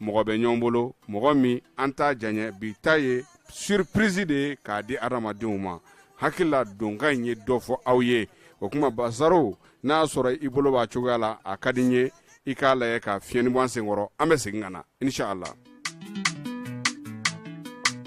mɔgɔ bɛ ɲɔgɔn bolo mɔgɔ min an t'a janya bi ta ye surprise de ye k'a di adamadenw ma hakili la donkan in ye dɔ fɔ aw ye o kuma bazaro n'a sɔrɔ i bolo b'a cogoya la a ka di n ye i k'a lajɛ ka fiɲɛni bɔ an senkɔrɔ an bɛ segin ka na inshallah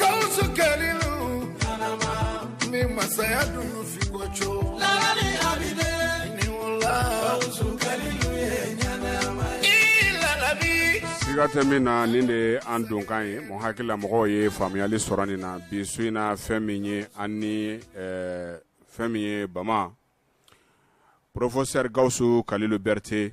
Gawusu Kalilu, karaba, ni masaya dununfiko co, lalani Abi den, ni wula, Gawusu Kalilu ye ɲanama ye, i lalabi. siga tɛ min na nin de ye an donkan ye mɔgɔ hakili la mɔgɔw ye faamuyali sɔrɔ nin na bi su in na fɛn min ye ani eh, fɛn min ye bama porofosɛri gawusu kalilu bɛrite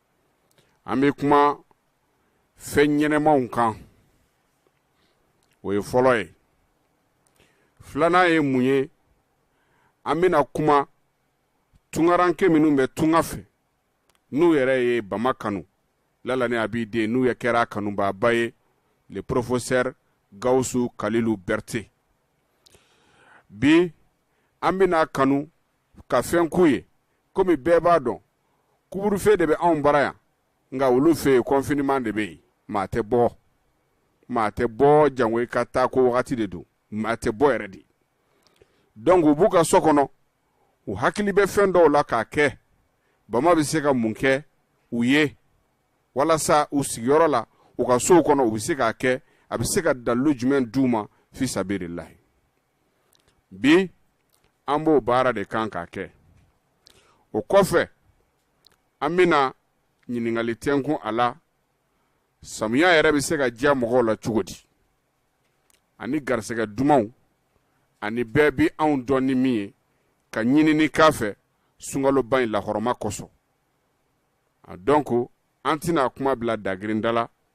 an bɛ kuma fɛn ɲɛnamaw kan o ye fɔlɔ ye filanan ye mun ye an bɛna kuma tungaranke minnu bɛ tunga fɛ n'u yɛrɛ ye bama kanu lalani abi den n'u ye kira kanubaaba ye le professeur gawusu kalilu bɛrite bi an bɛna kanu ka fɛn k'u ye komi bɛɛ b'a dɔn couvre-feu de bɛ anw bara yan nka olu fɛ yen confinement de bɛ yen maa tɛ bɔ maa tɛ bɔ jango i k'a ta ko wagati de don maa tɛ bɔ yɛrɛ dɛ donc u b'u ka so kɔnɔ u hakili bɛ fɛn dɔw la k'a kɛ bama bɛ se ka mun kɛ u ye walasa u sigiyɔrɔ la u ka sow kɔnɔ u bɛ se k'a kɛ a bɛ se ka dalilu jumɛn d'u ma fi sabirilahi bi an b'o baara de kan k'a kɛ o kɔfɛ an bɛna ɲininkali tɛnkun a la samiya yɛrɛ bɛ se ka diya mɔgɔw la cogo di ani garisɛgɛ dumanw ani bɛɛ bɛ anw dɔn ni min ye ka ɲinini k'a fɛ sunkaloba in lahɔrɔma kosɔn donc an tɛna kuma bila dagirin da la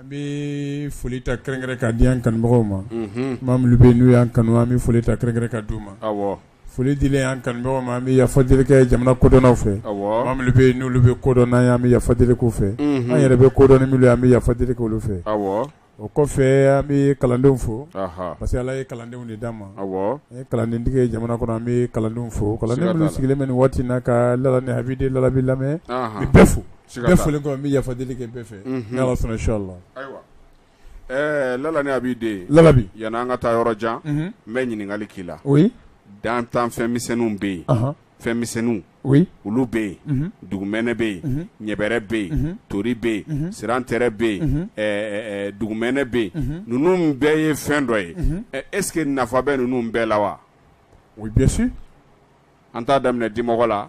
An bɛ foli ta kɛrɛnkɛrɛn ka di kanumɔgɔw ma ma bɛ n'u y' kanu an bɛ foli ta kɛrɛnkɛrɛn k'a d'u ma foli di an kanu ma an bɛ yafa deli kɛ jamana kodɔnnaw fɛ bɛ n'olu bɛ kodɔn an an bɛ yafa deli kɛ fɛ an yɛrɛ bɛ kodɔn an bɛ yafa deli kɛ olu fɛ o kɔfɛ an bɛ kalandenw fo parce que ala ye kalandenw de d'a ma kalandentigi jamana kɔnɔ an bɛ kalandenw fo sigilen bɛ waati na ka la a bɛ lalabi lamɛn bɛɛ fo Bɛɛ foli kɔ n bɛ yafa deli kɛ bɛɛ fɛ inshallah ayiwa lalani abi den lalabi yann'an ka taa yɔrɔ jan n bɛ ɲininkali k'i la dantanfɛn misɛnw bɛ yen fɛnmisɛn olu bɛ yen dugumɛnɛ bɛ yen ɲɛbɛrɛ bɛ yen tori bɛ yen sirantɛrɛ bɛ yen dugumɛnɛ bɛ yen ninnu bɛɛ ye fɛn dɔ ye est-ce que nafa bɛ ninnu bɛɛ la wa o bien sûr an t'a daminɛ dimɔgɔ la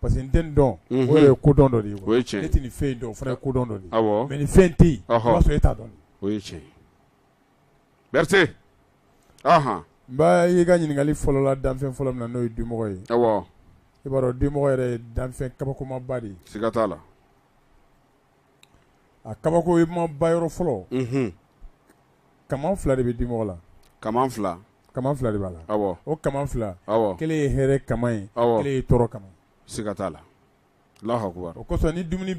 parce que n tɛ nin dɔn o ye kodɔn dɔ de ye ne tɛ nin fɛn dɔn o fana ye kodɔn dɔ mais nin fɛn tɛ yen sɔrɔ e t'a dɔn o ye cɛ Berete n ba y'i ka ɲininkali fɔlɔ la danfɛn fɔlɔ min na n'o ye dimɔgɔ ye i b'a dɔn dimɔgɔ yɛrɛ ye danfɛn kabakoma ba de ye siga t'a la a kabakoma ba yɔrɔ fɔlɔ kaman fila de bɛ dimɔgɔ la kaman fila kaman fila de b'a la o kaman fila kelen ye hɛrɛ kaman ye kelen ye tɔɔrɔ kaman siga t'a la Allahu akbar o kosɔn ni dumuni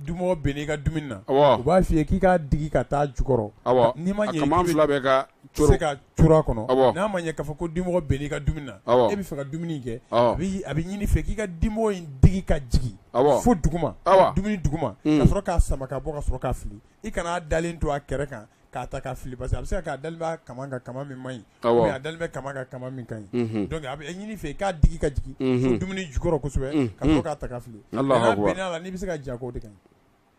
dimɔgɔ binna i ka dumuni na u b'a fɔ i ye k'i k'a digi ka taa jukɔrɔ kaman fila bɛɛ ka n'a ma ɲɛ k'a fɔ ko dimɔgɔ binna i ka dumuni na e b'a fɛ ka dumuni kɛ a bɛ ɲini i fɛ k'i ka dimɔgɔ in digi ka jigin fo dugu dumuni duguma ka sɔrɔ k'a sama ka bɔ ka sɔrɔ k'a fili i kana a dalen to a kɛrɛ kan k'a ta k'a fili parce que a bɛ se ka da kaman ka kaman min ma a dalen bɛ kaman ka kaman min kan donc a bɛ ɲini i fɛ i k'a digi ka jigin dumuni jukɔrɔ kosɛbɛ ka k'a ta k'a fili la bɛ se ka ja o de kan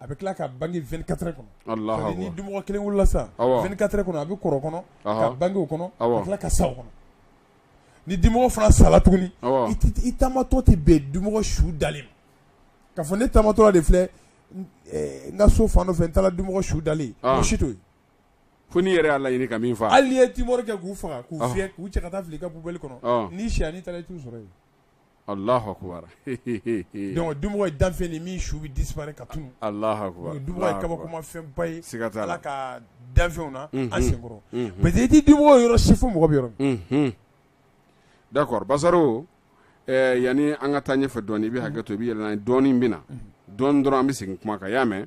a bɛ tila ka bange vingt-quatre heures kɔnɔ ni dimɔgɔ kelen wolola sa vingt-quatre heures kɔnɔ a bɛ kɔrɔ kɔnɔ ka bange o kɔnɔ a tila ka sa kɔnɔ ni dimɔgɔ fana sala tuguni i taamatɔ tɛ bɛn dimɔgɔ su dalen kan k'a fɔ ne taamatɔ de filɛ n ka so fan fɛ n taara dimɔgɔ su dalen sɔrɔ fo n'i yɛrɛ y'a laɲini ka min faa hali i ye Timor kɛ k'u faga k'u k'u cɛ ka taa fili i ka poubelle kɔnɔ ni sini i taara i t'u sɔrɔ yen Dun danfe ni min su bɛ di ka tun kabakoma fɛnba ye ala ka danfɛnw na an senkɔrɔ mɛ i tɛ dun yɔrɔ si fo mɔgɔ bɛ yɔrɔ dakɔrɔbasaro yanani an ka taa ɲɛfɛ dɔn i bɛ hakɛ to i bɛ yɛlɛ dɔɔnin bɛ na dɔn dɔrɔn an bɛ segin kuma kan y'a mɛn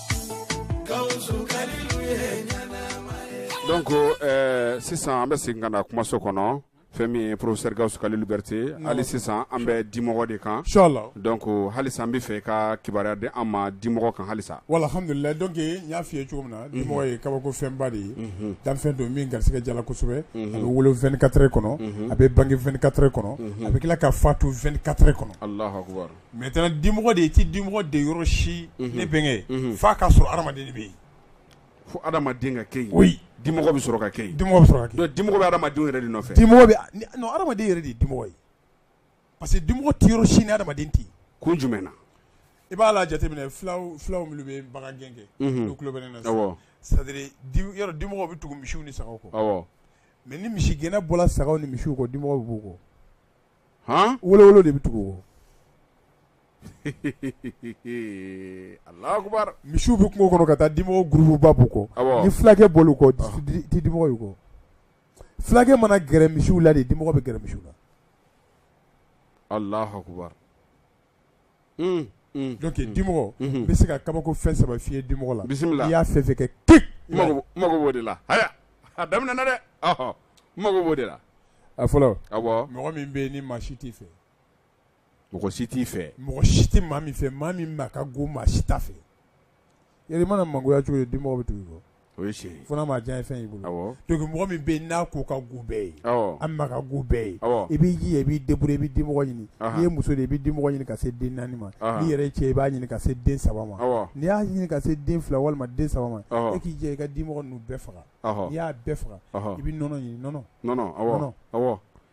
Donc sisan an bɛ segin ka na kumaso kɔnɔ fɛn min ye professeur Gaoussou Kalilou Berete hali sisan an bɛ dimɔgɔ de kan inchallah donc hali sa an b'a fɛ i ka kibaruya di an ma dimɔgɔ kan hali sa walhamdulilahi donc n y'a fɔ i ye cogo min na dimɔgɔ ye kabako fɛnba de ye danfɛn don min garisigɛ jala kosɛbɛ a bɛ wolo vingt-quatre heures kɔnɔ a bɛ bange vingt-quatre heures kɔnɔ a bɛ tila ka fatu vingt-quatre heures kɔnɔ Mais i tɛna dimɔgɔ de ye i tɛ dimɔgɔ ye yɔrɔ si ne bɛnkɛ fa ka sɔrɔ hadamaden bɛ yen fo hadamaden ka kɛ dimɔgɔ bɛ sɔrɔ ka kɛ dimɔgɔ sɔrɔ ka dimɔgɔ bɛ hadamaden yɛrɛ de nɔfɛ dimɔgɔ bɛ hadamaden yɛrɛ de dimɔgɔ ye parce que dimɔgɔ tɛ yɔrɔ si ni hadamaden tɛ ko jumɛn na i b'a la jateminɛ fulaw fulaw minnu bɛ bagan gɛn kɛ olu tulo bɛ ne na sa yɔrɔ dimɔgɔ bɛ tugu misiw ni saga kɔ mais ni misi gɛnna bɔra saga ni misi kɔ dimɔgɔ b'u kɔ olu de bɛ tugu u kɔ Alahu akbar misiw bɛ kungo kɔnɔ ka taa dimɔgɔ gurupu ba b'u kɔ ni fulakɛ b'olu kɔ dimɔgɔ y'u kɔ fulakɛ mana gɛrɛ misiw la de dimɔgɔ bɛ gɛrɛ misiw la donc dimɔgɔ bɛ se ka kabako fɛn saba filɛ dimɔgɔ la bisimila i y'a fɛ fɛ kɛ ke mako de la a daminɛ na dɛ n mako b'o de la a fɔlɔ mɔgɔ min bɛ ni maa si t'i fɛ mɔgɔ si t'i fɛ mɔgɔ si tɛ maa min fɛ maa min ma ka go maa si t'a fɛ Yɛrɛ mana mangoya cogo dimɔgɔ bɛ tugu i kɔ o ye tiɲɛ fana maa diya ye fɛn y'i bolo to mɔgɔ min bɛ n'a ko ka go bɛɛ ye a ma ka go bɛɛ ye i b'i jija i b'i débrouiller i bɛ dimɔgɔ ɲini n'i ye muso ye i bɛ dimɔgɔ ɲini ka se den naani ma n'i yɛrɛ cɛ i b'a ɲini ka se den saba ma n'i y'a ɲini ka se den fila walima den saba ma i k'i jija i ka dimɔgɔ ninnu bɛɛ faga n'i y'a bɛɛ faga i bɛ nɔnɔ ɲini nɔnɔ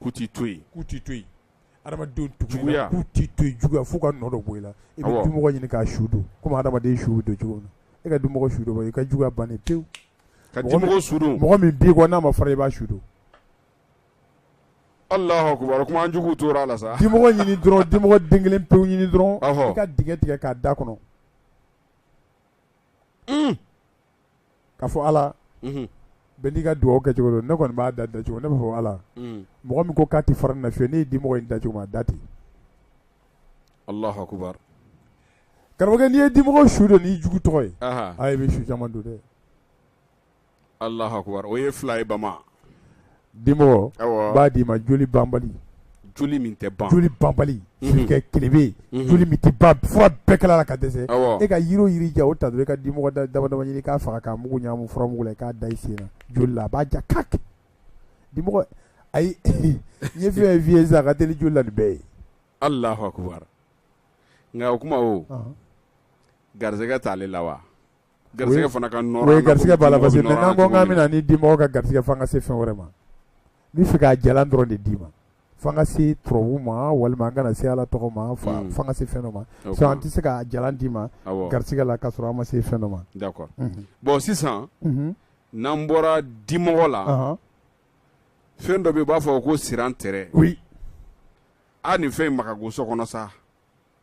ku tɛ to yen ku tɛ to yen adamadenw juguya ku tɛ to yen juguya fo ka nɔ dɔ bɔ i la i bɛ dimɔgɔ ɲini k'a su don komi adamaden su bɛ don cogo min e ka dimɔgɔ su dɔ bɔ i ka juguya bannen pewu ka dimɔgɔ su don mɔgɔ min b'i kɔ n'a ma fara i b'a su don Alahu akbar kuma jugu tora a la sa dimɔgɔ ɲini dɔrɔn dimɔgɔ den kelen pe ɲini dɔrɔn i ka dingɛ tigɛ k'a da kɔnɔ k'a fɔ ala bɛn n'i ka dugawu kɛcogo ne kɔni b'a da ten dacogo min ne b'a fɔ ala mɔgɔ min ko k'a tɛ fara n na fiyewu nin dimɔgɔ in dacogo m'a da ten Alahu akbar karamɔgɔkɛ n'i ye dimɔgɔ su don n'i jugu tɔgɔ ye a bɛ su caman don dɛ Alahu akbar o ye fila ye bama dimɔgɔ b'a d'i ma joli ban tɛ banbali tilebe bɛɛ kala la ka dɛsɛ e ka yiri jiri ja o ta i ka dimɔgɔ damadama ɲini k'a faga k'a mugu ɲa furamugu k'a da i sen joli la a b'a ja ka di ayi ye fi fi sa ka deli joli la ni bɛɛ ye Alahu akbar nka o kuma o garisɛgɛ t'ale la wa Garisɛgɛ fana ka garisɛgɛ b'a la parce que n'an ko k'an bɛna nin dimɔgɔ ka garisɛgɛ fo an ka se fɛn wɛrɛ ma n'i fɛ k'a jalan dɔrɔn de d'i ma fo an ka se turabu ma walima an ka na se Ala tɔgɔ ma fo an ka se fɛn dɔ ma sinon an tɛ se k'a jalan d'i ma garisɛgɛ la k'a sɔrɔ an ma se fɛn dɔ ma, d'accord, unhun, bon sisan n'an bɔra dimɔgɔ la, anhan, fɛn dɔ bɛ yen u b'a fɔ ko sirantɛrɛ, oui, aa nin fɛn in ma ka go so kɔnɔ sa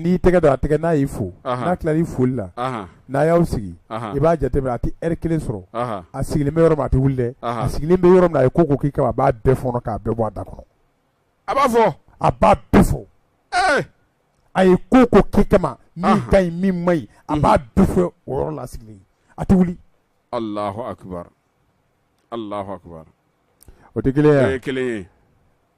n'i tɛgɛ don a tɛgɛ n'a y'i fo n'a tila i foli la n'a y'aw sigi i b'a jate minɛ a tɛ heure kelen sɔrɔ a sigilen bɛ yɔrɔ min a tɛ wuli dɛ a sigilen bɛ yɔrɔ min na a ye ko o ko k'i kama a b'a bɛɛ fɔ k'a bɛɛ bɔ a da kɔnɔ a b'a fɔ a b'a bɛɛ fɔ a ye ko o ko k'i kama min ka ɲi min ma ɲi a b'a bɛɛ fɔ o yɔrɔ la sigilen a tɛ wuli Alahu akbar Alahu akbar o ye kelen ye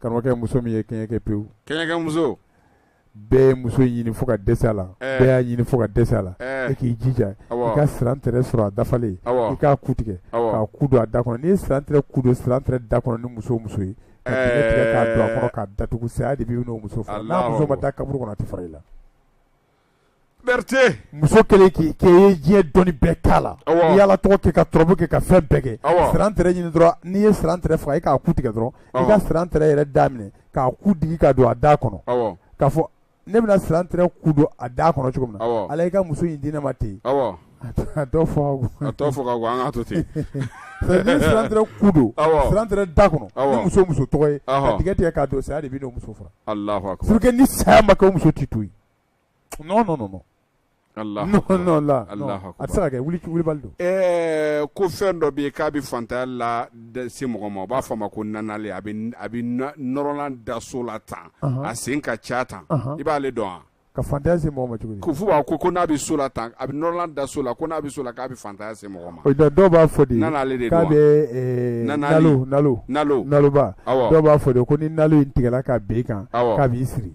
Karamɔgɔkɛ muso min ye kɛɲɛkɛ pewu kɛɲɛkɛ muso bɛɛ ye muso ɲini fo ka dɛsɛ a la bɛɛ y'a ɲini fo ka dɛsɛ a la e k'i jija i ka sirantɛrɛ sɔrɔ a dafalen i k'a ku tigɛ k'a ku don a da kɔnɔ n'i ye sirantɛrɛ ku don sirantɛrɛ da kɔnɔ ni muso muso ye k'a don a kɔnɔ k'a datugu saya de b'i n'o muso fara n'a muso ma taa kaburu kɔnɔ a tɛ fara i la Berete muso 1 k'i kɛ i ye diɲɛ dɔnni bɛɛ k'a la awɔ n'i y'Ala tɔgɔ kɛ ka turabu kɛ ka fɛn bɛɛ kɛ awɔ sirantɛrɛ ɲini dɔrɔn n'i ye sirantɛrɛ faga i k'a ku tigɛ dɔrɔn awɔ i ka sirantɛrɛ yɛrɛ da minɛ k'a ku digi ka don a da kɔnɔ awɔ k'a fɔ ne bɛna sirantɛrɛ ku don a da kɔnɔ cogo min na awɔ Ala i ka muso in di ne ma ten awɔ a tɔ fɔ ka go a tɔ fɔ ka go an k'a to ten c'est à dire ni sirantɛrɛ ku don awɔ sirantɛrɛ da kɔnɔ awɔ ni muso ye muso tɔgɔ ye ka ɔhɔ tigɛ tigɛ k'a don saya de b'i n'o muso fara Alahu akbar c'est que ni saya ma kɛ o muso t'i to ye ko fɛn dɔ bɛ k'a bɛ faantanya lase mɔgɔ ma u b'a fɔ a ma ko a bɛ nɔrɔ ka da so la tan a sen ka ca tan i b'aale dɔn wa k'a faantanya se mɔgɔ ma ko fo b'a ko ko n'a bɛ so la tan a bɛ nɔrɔ ka da so la ko n'a bɛ so la k'a bɛ faantanya se mɔgɔ ma dɔw b'a fɔ de n'ale de k'a bɛba dɔw b'a fɔ ko ni in tigɛ k'a bɛ kan k'a b'i siri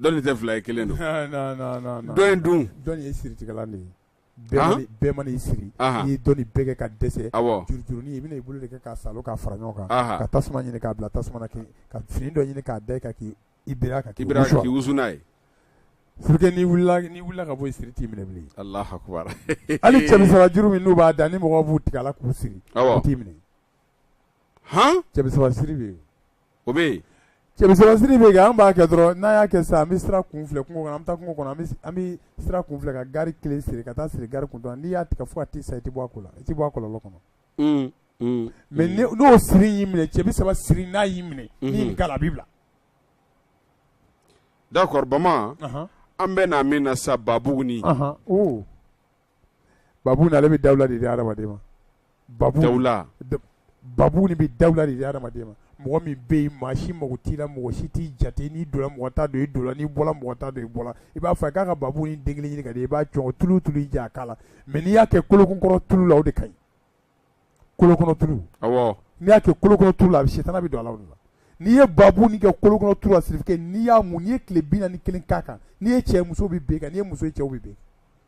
Dɔnni tɛ fila ye kelen don dɔ in dun ye siri de ye bɛɛ ma siri i dɔnni bɛɛ kɛ ka dɛsɛ juruurun i bɛna i bolo de kɛ ka sa ka fara ɲɔgɔn kan ka tasuma ɲini k'a bila tasuma kɛ ka fini dɔ ɲini k'a da ka k' i ka k' wusuuna ye su ka bɔ i siri t'i minɛ bilen hali cɛ bi saba juru min n'u b'a da ni mɔgɔ b'u tigɛ la k'u siri t'i minɛ han cɛ bi saba siri bɛ yen o bɛ yen cɛ bi saba siri bɛ yen an b'a kɛ dɔrɔn n'an y'a kɛ sisan an bɛ sira kun filɛ kungo kɔnɔ an bɛ taa kungo kɔnɔ an bɛ sira kun filɛ ka gari kelen siri ka taa siri gari kun dɔrɔn n'i y'a tigɛ fo ka t'i sa i tɛ bɔ a ko la i tɛ bɔ a kɔlɔlɔ kɔnɔ mais n'o siri y'i minɛ cɛ bi saba siri n'a y'i minɛ n'i nin k'a la a b'i bila d'accord Bama an bɛ na min na sisan Babuguni babu ni ale bɛ dawula de di hadamaden ma babu ni bɛ dawula de di hadamaden ma mɔgɔ min bɛ yen maa si mako t'i la mɔgɔ si t'i jate n'i donna mɔgɔ t'a dɔn i don n'i bɔra mɔgɔ t'a dɔn i bɔra i b'a fɔ k'a ka babu ni den kelen ɲini ka di i b'a jɔ tulu tulu ja k'a la mɛ n'i y'a kɛ kolokɔrɔ tulu la o de ka ɲi kolokɔrɔ tulu awɔ n'i y'a kɛ kolokɔrɔ tulu la a bɛ se tana bɛ don a la o de la n'i ye babu ni kɛ kolokɔrɔ tulu la sirifike n'i y'a mun n'i ye tile bi naani kelen k'a kan n'i ye cɛ ye muso bɛ bin i kan n'i ye muso ye cɛw bɛ bin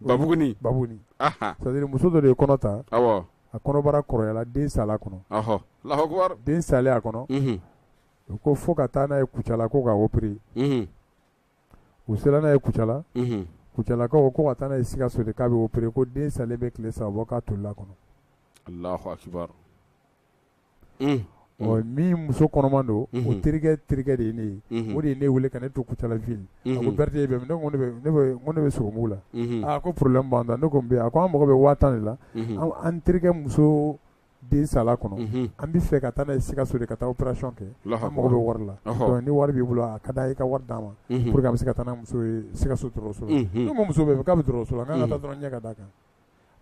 Babugu ni babugu ni c'est-à-dire muso dɔ de ye kɔnɔ ta a kɔnɔbara kɔrɔyala den sala a kɔnɔ Alahu akibaru den sala a kɔnɔ u ko fo ka taa n'a ye kucala ko ka opere u sela n'a ye kucala kucalakaw ko ka taa n'a ye sikaso de k'a bɛ opere ko den salen bɛ tile saba bɔ ka toli a kɔnɔ min muso kɔnɔma don o terikɛ terikɛ de ye ne ye o de ye ne weele ka ne to kucala ville la ko berete bɛ ne bɛ sugu la a ko problème ne ko a ko an mago bɛ waa tan de la an terikɛ muso den sala kɔnɔ an bɛ fɛ ka taa n'a ye sikaso de ka taa opération kɛ an mago bɛ wari la ni wari b'i bolo a ka da i ka wari d'an ma an bɛ se ka taa muso sikaso dɔgɔtɔrɔso muso bɛ k'a bɛ dɔgɔtɔrɔso la' ka dɔrɔn ɲɛ ka da kan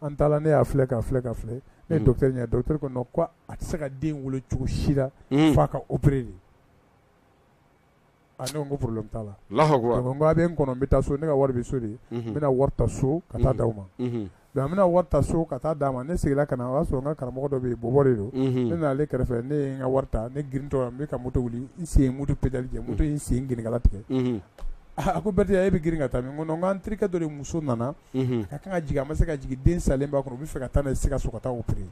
an taara ne y'a filɛ ka filɛ ka filɛ ne mm. docteur ɲɛ docteur ko non ko a tɛ se ka den wolo cogo si la mm. f'a ka opérer de a ah, ne ko n ko problème t'a la Alahu akibaru donc n ko a bɛ n kɔnɔ n bɛ taa so ne ka wari bɛ so de mhm. n bɛna wari ta so ka taa mhm. d'aw ma mhm. donc an bɛna wari ta so ka taa d'a ma ne seginna ka na o y'a sɔrɔ n ka karamɔgɔ dɔ bɛ yen bɔbɔ de don ne nana ale kɛrɛfɛ ne ye n ka wari ta ne girintɔ n bɛ ka moto wuli n sen ye moto pédale jɛ moto ye n sen gɛlɛnkala tigɛ a ko Bɛrite e bɛ girin ka taa min n ko non n ko an terikɛ dɔ de muso nana ka kan ka jigin a ma se ka jigin den salen b'a kɔnɔ u bɛ fɛ ka taa n'a ye sikaso ka taa opere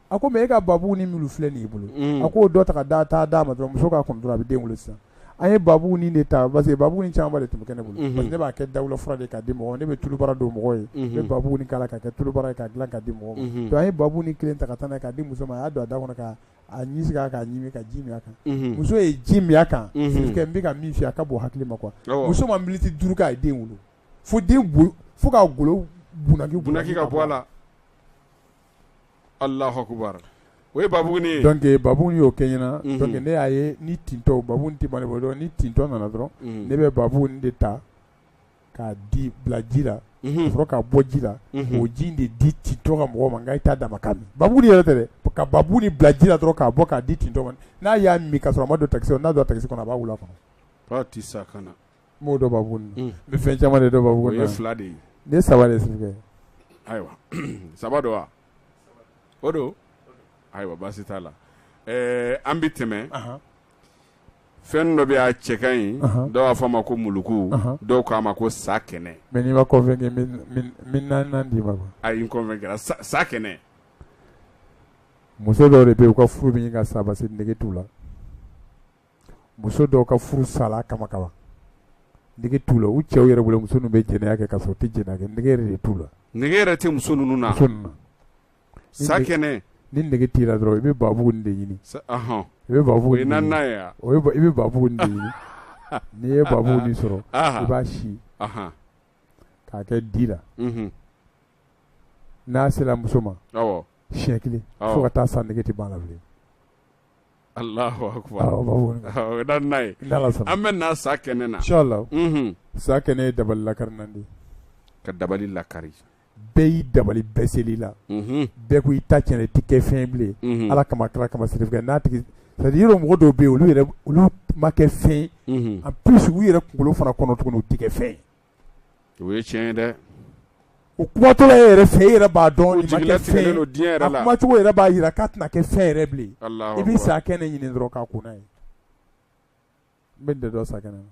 a ko mais e ka babugu ni muru filɛ nin i bolo a k'o dɔ ta ka taa d'a ma dɔrɔn muso k'a kunu dɔrɔn a bɛ den sisan a ye babugu ni de ta parce que babugu ni caman de tun bɛ ne bolo ne b'a kɛ dawula fura de ka di mɔgɔ ne bɛ tulubara don mɔgɔ ye ne babugu ni k'a ka kɛ tulubara ka dilan ka di mɔgɔ a ye babugu ni kelen ta ka taa ka di muso ma a y'a don a da kɔnɔ ka a ɲɛ k'a ka ji a kan muso ye ji min a kan n bɛ ka min fɔ a ka bon hakili ma quoi muso ma miniti duuru kɛ a ye den wolo fo den fo ka golo bɔsi ka bɔ a la Alahu akibaru o ye babugu donc babugu ni y'o kɛ n ɲɛ na ne y'a ye ni tintɔ babugu tɛ bali dɔn ni tintɔ nana dɔrɔn ne bɛ babugu ni de ta k'a di bila ji la sɔrɔ ka bɔ ji la o ji de di tintɔ ka mɔgɔ ma i daba babugu yɛrɛ tɛ ka babugu ni bila ji la dɔrɔn k'a bɔ k'a di tintɔ ma n'a y'a min ka sɔrɔ ma don ta n'a don tasi kɔnɔ a b'a wula kɔnɔ sa ka Mɔgɔ dɔ b'a bolo nin ye fɛn caman de dɔ b'a bolo nin ye o ye fila de ye nin ye saba de ye Sidibe ayiwa saba don wa o don ayiwa baasi t'a la ɛɛ an bɛ tɛmɛ fɛn dɔ bɛ yen a cɛ ka ɲi dɔw b'a fɔ a ma ko muluku dɔw k'a ma ko sakɛnɛ mais n'i ma convaincu n bɛ naaninan d'i ma quoi a i convaincu ra sakɛnɛ muso dɔw de bɛ yen u ka furu bɛ ɲini ka sa parce que nege t'u la. muso dɔw ka furu sala kama kama nege t'u la u cɛw yɛrɛ bolo muso ninnu bɛ jɛnɛya kɛ ka sɔrɔ u tɛ jɛnɛya kɛ nege yɛrɛ de t'u la nege yɛrɛ tɛ muso ninnu na muso ninnu sakɛnɛ ni nege t'i la dɔrɔn i bɛ babugunin de ɲini i bɛ babugunin de ɲini o i bɛ babugunin de ɲini n'i ye babugunin sɔrɔ i b'a si k'a kɛ di la mhm. n'a sera muso ma siɲɛ kelen fo ka taa sa nege tɛ ban la bilen an bɛ sakɛnɛ na sakɛnɛ ye dabali lakarinan de ka dabali lakari bɛɛ y'i dabali bɛɛ sel'i la bɛɛ ko i ta cɛnna i tɛ kɛ fɛn bilen ala kama kira kama n'a tigi mɔgɔ dɔw bɛ yen olu olu ma kɛ fɛn en plus u yɛrɛ kunkolo fana kɔnɔ tuguni u tɛ kɛ fɛn o ye tiɲɛ ye dɛ o kumatɔla e yɛrɛ fɛ e yɛrɛ b'a dɔn nin ma kɛ jigilatigɛ fɛn ye. don diɲɛ yɛrɛ la. a kumacogo yɛrɛ b'a jira k'a tɛna kɛ fɛn yɛrɛ bilen Allahu akbar. sakɛnɛ ɲini dɔrɔn k'a kun n'a ye n bɛ nin de dɔn sakɛnɛ na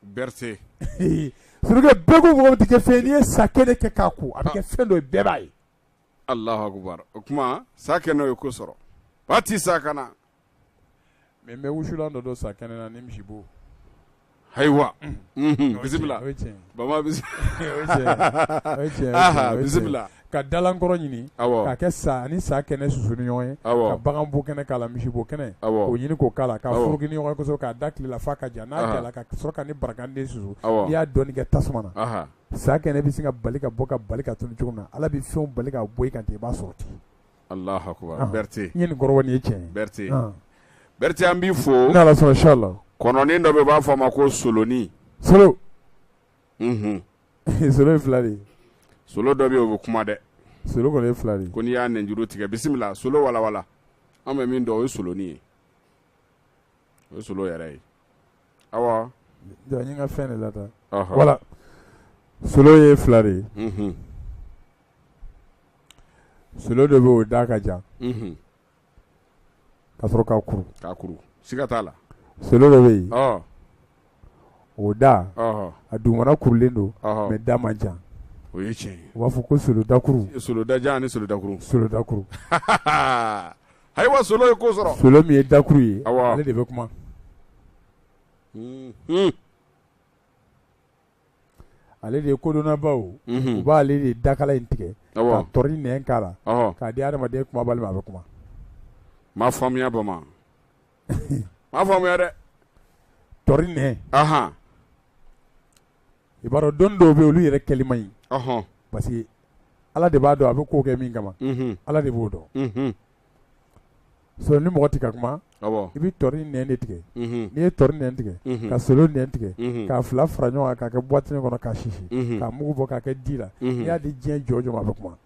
berse surukɛ bɛɛ ko mɔgɔ tɛ kɛ fɛn n'i ye sakɛnɛ kɛ k'a kun a bɛ kɛ fɛn dɔ ye bɛɛ b'a ye Allahu akbar o kuma sakɛnɛ o ye ko sɔrɔ ba ti sakɛnɛ Mais n bɛ wusulan dɔ dɔn sakɛnɛ na ni misibo, ayiwa, unhun, bisimila, o ye tiɲɛ ye, baba bisimila, ka dalankɔrɔ ɲini, awɔ, ka kɛ sa ani sakɛnɛ susu ni ɲɔgɔn ye, awɔ, ka baganbo kɛnɛ k'a la misibo kɛnɛ, awɔ, k'o ɲini k'o k'a la, awɔ, ka foroki ni ɲɔgɔn ye kosɛbɛ k'a da tile la f'a ka ja, anhan, n'a jara ka sɔrɔ ka ni barakante susu, awɔ, n'i y'a dɔɔnin kɛ tasuma na, anhan, sakɛnɛ bɛ se ka bali ka bɔ ka bali ka tunun cogo min na Ala bɛ fɛnw bali ka bɔ i kan ten i b'a sɔrɔ ten Berete Berete an b'i fo kɔnɔnin dɔ bɛ u b'a fɔ a ma ko solonin solo solo fila de solo dɔ bɛ o bɛ kuma dɛ solo fila de ko n'i y'a nɛnjuru tigɛ bisimila solo wala wala an bɛ min dɔn o ye solonin ye o ye solo yɛrɛ ye aw ka fɛn de la wala solo ye fila de ye solo dɔ bɛ o da ka jan ka sɔrɔ ka kuru ka kuru siga t'a la solo dɔ bɛ yen o da a dugumana kurulen don mais a da man jan o ye tiɲɛ u b'a fɔ ko solodakuru soloda ni solodakuru solodakuru Ayiwa solo ye ko sɔrɔ solo min ye dakuru ye ale de bɛ kuma ale de kodɔnnabaw u b'ale de dakala in tigɛ ka tɔri nɛn k'a la k'a di hadamaden kumabali ma a bɛ kuma ma faamuya bamanan ma faamuya dɛ tɔri nɛn i b'a dɔn dɔn dɔw bɛ olu yɛrɛ kɛli man ɲi parce que ala de b'a dɔn a bɛ ko kɛ min kama ala de b'o dɔn sinon ni mɔgɔ tɛ ka kuma i bɛ tɔri nɛn de tigɛ n'i ye tɔri nɛn tigɛ ka solo nɛn tigɛ k'a fila fara ɲɔgɔn kan ka kɛ buwat kɔnɔ ka sisi ka mugu bɔ ka kɛ di la i y'a di diɲɛ jɔ jɔ a bɛ kuma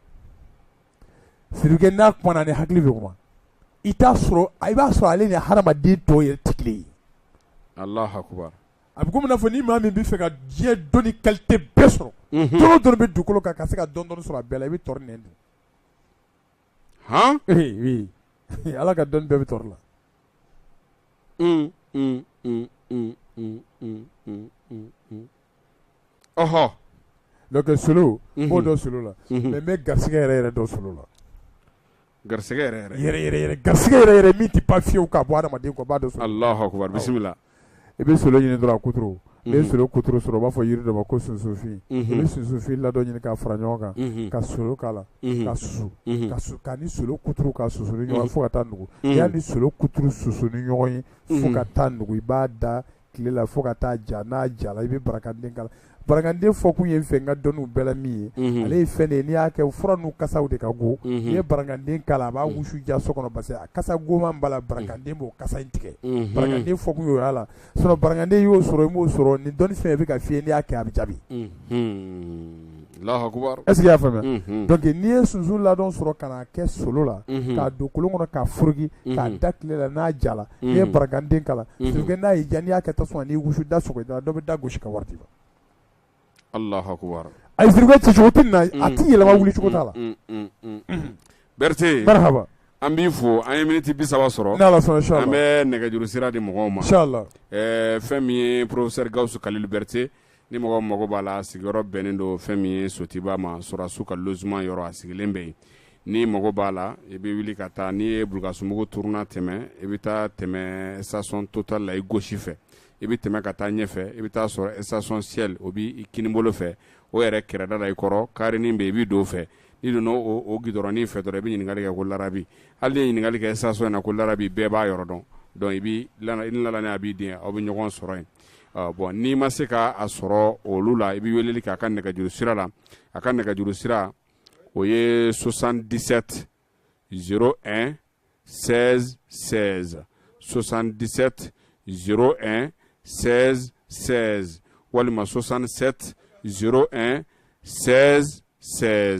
sirike n'a kuma ni hakili bɛ kuma i t'a sɔrɔ i b'a sɔrɔ ale ni hadamaden tɔw yɛrɛ tɛ kelen ye a bɛ komi n'a fɔ ni maa min b'a fɛ ka diɲɛ dɔnni kalite bɛɛ sɔrɔ dɔn o dɔn bɛ dugukolo kan ka se ka dɔɔnin dɔɔnin sɔrɔ a bɛɛ la i bɛ tɔri nɛn don ala ka dɔn bɛɛ bɛ tɔri la ɔɔ donc solo b'o dɔ solo la mais n bɛ garisɛgɛ yɛrɛ yɛrɛ dɔ solo la garisɛgɛ yɛrɛ garisɛgɛ yɛrɛ min tɛ ban fiyewu ka bɔ adama kɔ abada bisimila i bɛ solo ɲini dɔrɔn kutu i bɛ solo kutu sɔrɔ u b'a fɔ yiri dɔ ma ko sunsunfin i bɛ sunsunfin ladɔn ɲini ka fara ɲɔgɔn kan ka solo k'a la ka susu ka su k'a ni solo kutu ka susu ni ɲɔgɔn fo ka taa nugu y'a ni solo kutu susu ni ɲɔgɔn ye fo ka taa nugu i b'a da tile la fo ka taa ja n'a jala i bɛ barakande k'a la barakande fɔkun ye fɛn n ka dɔnniw bɛɛ la min ye mhm. ale ye fɛn de ye n'i y'a kɛ fura ninnu kasaw de ka go mhm. n'i ye barakande k'a la a b'a mhm. wusu diya so kɔnɔ parce que a kasa goman b'a la barakande b'o kasa in tigɛ barakande fɔkun y'o y'a la sinon barakande y'o sɔrɔ i m'o sɔrɔ ni dɔnni fɛn bɛ ka fiyɛ n'i y'a kɛ a bɛ jaabi. y'a faamuya donc n'i ye sunsun ladɔn sɔrɔ ka kɛ solo la ka don kolon kɔnɔ ka foroki ka da tile la n'a jala n'i ye barakande k'a la n'a ye jan y'a kɛ tasuma na k'i wusu da sɔgɔma dɔ bɛ da gosi ka wari d'i ma allahu akbar a tɛ yɛlɛma wuli cogo t'a la berete marahaba an b'i fo an ye miniti bisaba sɔrɔ an bɛ nɛgɛjuru sira di mɔgɔw ma fɛn min ye professeur gawusu kalilu berete ni mɔgɔ mago b'a la a sigiyɔrɔ bɛnnen don fɛn min ye sotiba ma sɔrɔdasiw ka logement yɔrɔ a sigilen bɛ yen n'i mago b'a la i bɛ wuli ka taa n'i ye bulukasumugu tournant tɛmɛ i bɛ taa tɛmɛ station total la i gauche fɛ i bɛ tɛmɛ ka taa ɲɛfɛ i bɛ taa sɔrɔ station shell o bɛ i kinibolo fɛ o yɛrɛ kɛrɛda la i kɔrɔ karenin bɛ yen i bɛ don o fɛ n'i donna o o gidɔrɔnin fɛ dɔrɔn i bɛ ɲininkali kɛ ko larabi hali n'i ye ɲininkali kɛ station in na ko larabi bɛɛ b'a yɔrɔ dɔn donc i b'i lana i ni lananen a b'i den aw bɛ ɲɔgɔn sɔrɔ yen Bɔn n'i ma se k'a sɔrɔ olu la i bɛ wele k'a ka nɛgɛjuru sira la a ka nɛgɛjuru sira o ye sosan disati z n sɛ sɛ sosan disati z n sɛ sɛ walima sosansɛte z n sɛ sɛ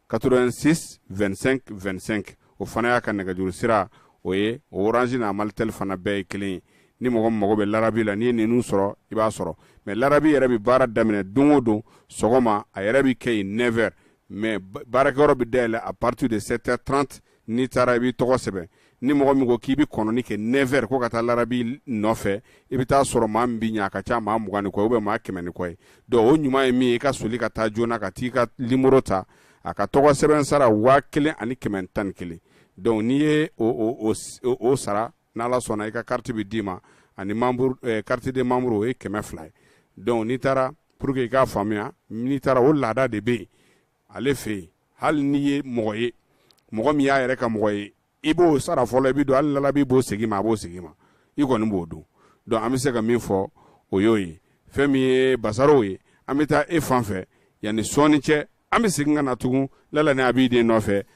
86 25 25 o fana y'a ka nɛgɛjuru sira o ye orange n'a malitel fana bɛɛ ye kelen ye ni mɔgɔ min mago bɛ lalabi la n'i ye ninnu sɔrɔ i b'a sɔrɔ mɛ lalabi yɛrɛ bɛ baara daminɛ don o don sɔgɔma a yɛrɛ bɛ kɛ nɛfɛri mɛ baarakɛyɔrɔ bɛ dayɛlɛ à partir de sept heures trente n'i taara i b'i tɔgɔ sɛbɛn ni mɔgɔ min ko k'i bɛ kɔnɔni kɛ nɛfɛri ko ka taa lalabi nɔfɛ i bɛ t'a sɔrɔ maa min bɛ ɲɛ a ka ca maa mugan ni kɔ bɛ maa kɛmɛ ni kɔ ye dɔnku o ɲuman ye min ye i ka soli ka taa joona ka t'i ka nimoro ta a ka tɔgɔ sɛbɛn sara waa kelen ani kɛmɛ tan ni kelen dɔnku n'i ye o sara n'ala sɔnna i ka kariti bɛ d'i ma ani eh, carte de membre o ye kɛmɛ fila ye dɔnku n'i taara pour que i k'a faamuya n'i taara o laada de bɛ yen ale fɛ yen hali n'i ye mɔgɔ ye mɔgɔ min y'a yɛrɛ ka mɔgɔ ye i b'o sara fɔlɔ i bɛ don hali ni lalabi b'o segin i ma a b'o segin i ma i kɔni b'o don dɔnku an bɛ se ka min fɔ o y'o ye fɛn min ye basarow ye an bɛ taa e fan fɛ yanni sɔɔni cɛ an bɛ segin ka na tugun lalani abidini nɔfɛ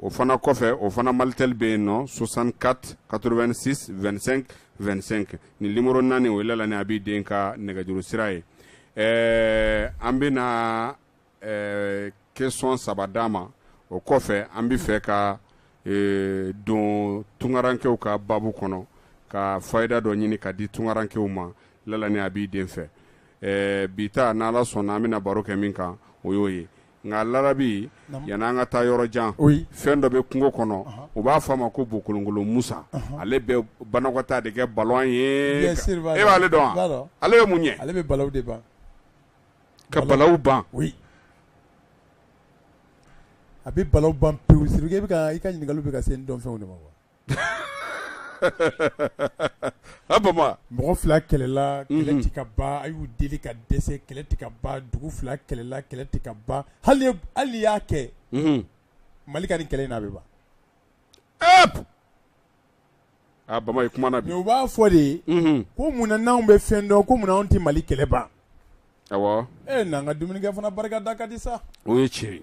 o fana kɔfɛ o fana malitel bɛ yen nɔ 64 86 25 25 nin nimoro naani o ye lalani abidini ka nɛgɛjuru sira ye ɛɛ an bɛna ɛɛ question saba d'a ma o kɔfɛ an bɛ fɛ ka ee, don tungarankew ka babu kɔnɔ ka fayida dɔ ɲini ka di tungarankew ma lalani abidini fɛ ɛɛ bi ta n'ala sɔnna an bɛna baro kɛ min kan o y'o ye nka lalabi yanni an ka taa yɔrɔ jan fɛn dɔ bɛ kungo kɔnɔ u b'a fɔ a ma ko bokolonkolon musa ale bɛ banakɔtaa de kɛ balon ye e b'ale dɔn ale bɛ mun ɲɛ ale bɛ ka balaw ban a bɛ bala ban pe i ka ɲininkali bɛ ka se dɔn fɛnw de ma wa mɔgɔ fila kɛlɛla kɛlɛ tɛ ka ban a y'u deli ka dɛsɛ kɛlɛ tɛ ka ban dugu fila kɛlɛla kɛlɛ tɛ ka ban hali y'a kɛ mali ka nin kɛlɛ in na bɛ ban a bama i kuma u b'a fɔ de ye ko munna n'an bɛ fɛn dɔn ko munna anw tɛ mali kɛlɛ ban e naan ka dumunikɛ fana barika da ka di sa o ye tiɲɛ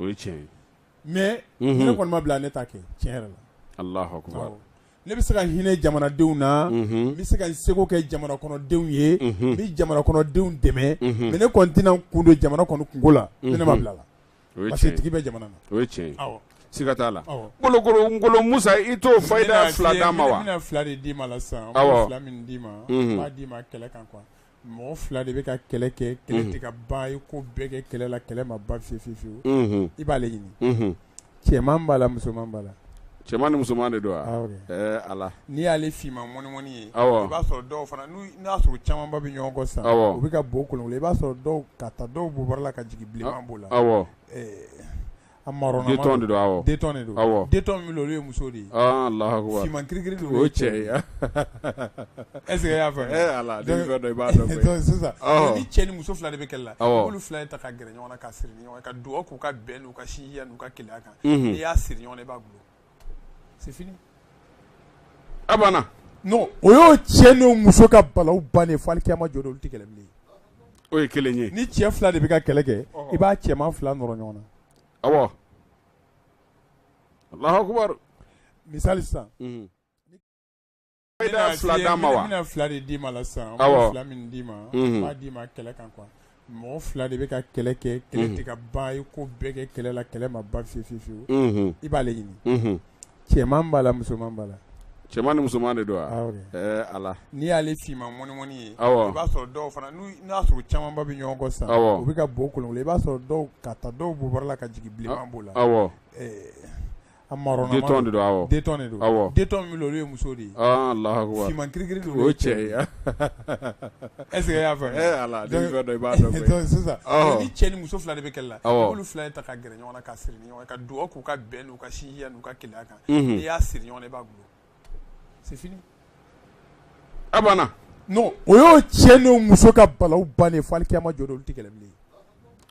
o ye tiɲɛ ye mais unhun, ni ne kɔni ma bila ne t'a kɛ tiɲɛ yɛrɛ la, Alahu akbar, awɔ, ne bɛ se ka hinɛ jamanadenw na, unhun, n bɛ se ka n seko kɛ jamanakɔnɔdenw ye, unhun, n bɛ jamanakɔnɔdenw dɛmɛ, unhun, mais ne kɔni tɛna n kun don jamana kɔni kunko la, ni ne ma bila a la, o ye parce que tiɲɛ ye, tigi bɛ jamana na, o ye tiɲɛ ye, awɔ, siga t'a la, awɔ. Kolokolo Ngolo Musa i t'o fayida fila d'an ma wa? N bɛna fila de d'i ma la sisan, n bɛ fila min d'i ma, unhun, n b'a d'i ma kɛlɛ kan quoi mɔgɔ fila de bɛ ka kɛlɛ kɛ kɛlɛ tɛ ka ban i ye ko bɛɛ kɛ kɛlɛ la kɛlɛ ma ban fiyewu fiyewu fiyewu i b'ale ɲini cɛman b'a la musoman b'a la cɛman ni musoman de don wa awɔ kɛ ɛɛ Ala n'i y'ale finman mɔnimɔni ye awɔ i b'a sɔrɔ dɔw fana n'u n'a y'a sɔrɔ u camanba bɛ ɲɔgɔn kɔ sisan awɔ u bɛ ka bo kolonkolon i b'a sɔrɔ dɔw k'a ta dɔw bobara la ka jigin bilenman b'o la awɔ ɛɛ A marronnama don, Dentɔn de don, awɔ, dentɔn de don, awɔ, dentɔn min bɛ yen olu ye muso de ye, ɔɔ, Alahu akbar, finman kirikiri ninnu o ye cɛ ye, est ce que e y'a faamu, ee Ala, ni fɛn dɔ i b'a dɔn koyi, donc sisan ni cɛ ni muso fila de bɛ kɛlɛ la, awɔ, i b'olu fila de ta ka gɛrɛ ɲɔgɔn na ka siri ɲɔgɔn na ka dugawu k'u ka bɛn n'u ka sinjiya n'u ka kelenya kan, unhun, n'i y'a siri ɲɔgɔn na i b'a gulon O y'o cɛ n'o muso ka balawu bannen fo alikiyama jɔ don olu tɛ kɛlɛ bilen o ye kelen ye ni cɛ fila de bɛ ka kɛlɛ kɛ i b'a cɛman fila nɔrɔ ɲɔgɔn na awɔ Alahu akbar misali sisan Bɛna fila d'an ma wa? N bɛna fila de d'i ma la sisan. Awɔ. N bɛ fila min d'i ma. Unhun. N b'a d'i ma kɛlɛ kan quoi. Mɔgɔ fila de bɛ ka kɛlɛ kɛ. Kɛlɛ tɛ ka ban. I ye ko bɛɛ kɛ kɛlɛ la, kɛlɛ ma ban fiyewu fiyewu fiyewu. Unhun. I b'ale ɲini. Unhun. Cɛman b'a la, musoman b'a la. Cɛman ni musoman de don wa? Awɔ kɛ. Ɛɛ Ala! N'i y'ale finman mɔnimɔni ye. Awɔ. I b'a sɔrɔ dɔw fana n'u n'o y'a sɔrɔ u camanba bɛ ɲɔgɔn kɔ sisan. Awɔ. U bɛ ka bo kolonkolon. I b'a sɔrɔ dɔw k'a ta dɔw bobara la ka jigin bilenman b'o la. Awɔ. Ɛɛ A marronnama don, Dentɔn de don, awɔ, Dentɔn de don, awɔ, Dentɔn min bɛ yen olu ye muso de ye, ɔɔ, Alahu akibaru, finman kirikiri don, o ye cɛ ye, est ce que e y'a faamu, ee Ala, ni fɛn dɔ i b'a dɔn koyi, donc sisan, ɔhɔ, ni cɛ ni muso fila de bɛ kɛlɛ la, awɔ, i b'olu fila de ta ka gɛrɛ ɲɔgɔn na ka siri ɲɔgɔn na ka dugawu k'u ka bɛn n'u ka sinjiya n'u ka kelenya kan, unhun, n'i y'a siri ɲɔgɔn na i b'a gulon o y'o cɛ n'o muso ka balawu bannen fo alikiyama jɔ don olu tɛ kɛlɛ bilen